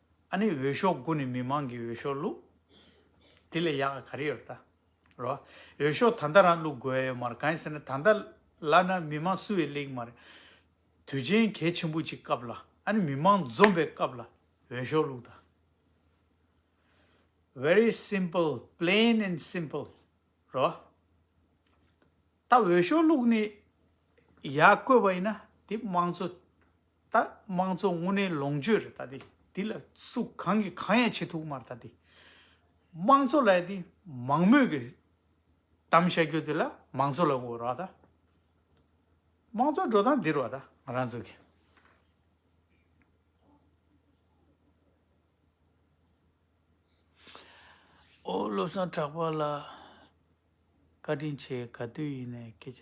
ཨ་ནི་འོས་ཤོག་དགུ་ནི་མི་མང་གིས་འོས་ཤོག་བླུགས། དེ་ལས་ཡག་ག་རེ་ཡོད་ད་རོགས། འོས་ཤོག་ད་ལྟ་རང་བླུགས་དགོས་ཨེ་མ་རེད་གང་ཡིན་ཟེར་ན་ད་ལྟ་ལ་ན་མི་མང་སུ་ཡིས་གླེང་མ་རེད། དུས་ཆེན་གལ་ཆེན་པོ་གཅིག་སྐབས་ལ་ཨ་ནི་མི་མང་འཛོམས་པའི་སྐབས་ལ་འོས་ཤོག་བླུགས་ད། Very simple plain and simple རོགས། ད་འོས་ཤོག་བླུགས་ནས་ཡག་བཀོད་པ་ཡིན་ན་དེ་དམངས་གཙོ། ད་དམངས་གཙོ་དངོས་གནས་ལོངས་སྤྱོད་རེད་ད་དེ་དེ་ལ་སུ་གང་གིས་གང་ཡང་བྱེད་ཐུབ་མ་རེད་ད་དེ། དམངས་གཙོ་ལ་དེ་མང་མོས་ཀྱི་གཏམ་བཤད་རྒྱུ་དེ་ལ་མང་གཙོ་ལ་འོས་རོགས་ད། དམངས་གཙོ་འགྲོ་སྟངས་འདི་རོགས་ད་ང་རང་ཚོ་གི། ཨོ་བློ་བཟང་གྲགས་པ་ལགས། བཀའ་དྲིན་ཆེ་ག་དུས་ཡིན་ནས་སྐད་ཆ་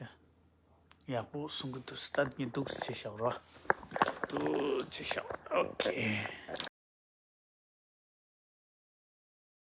ཡག་པོ་གསུང་གི་འདུག་སྟབས་ཀྱི་འདུག་བྱས་ཤོག་རོ་འདུག་བྱས་ཤོག་ཨོ་ཁེ།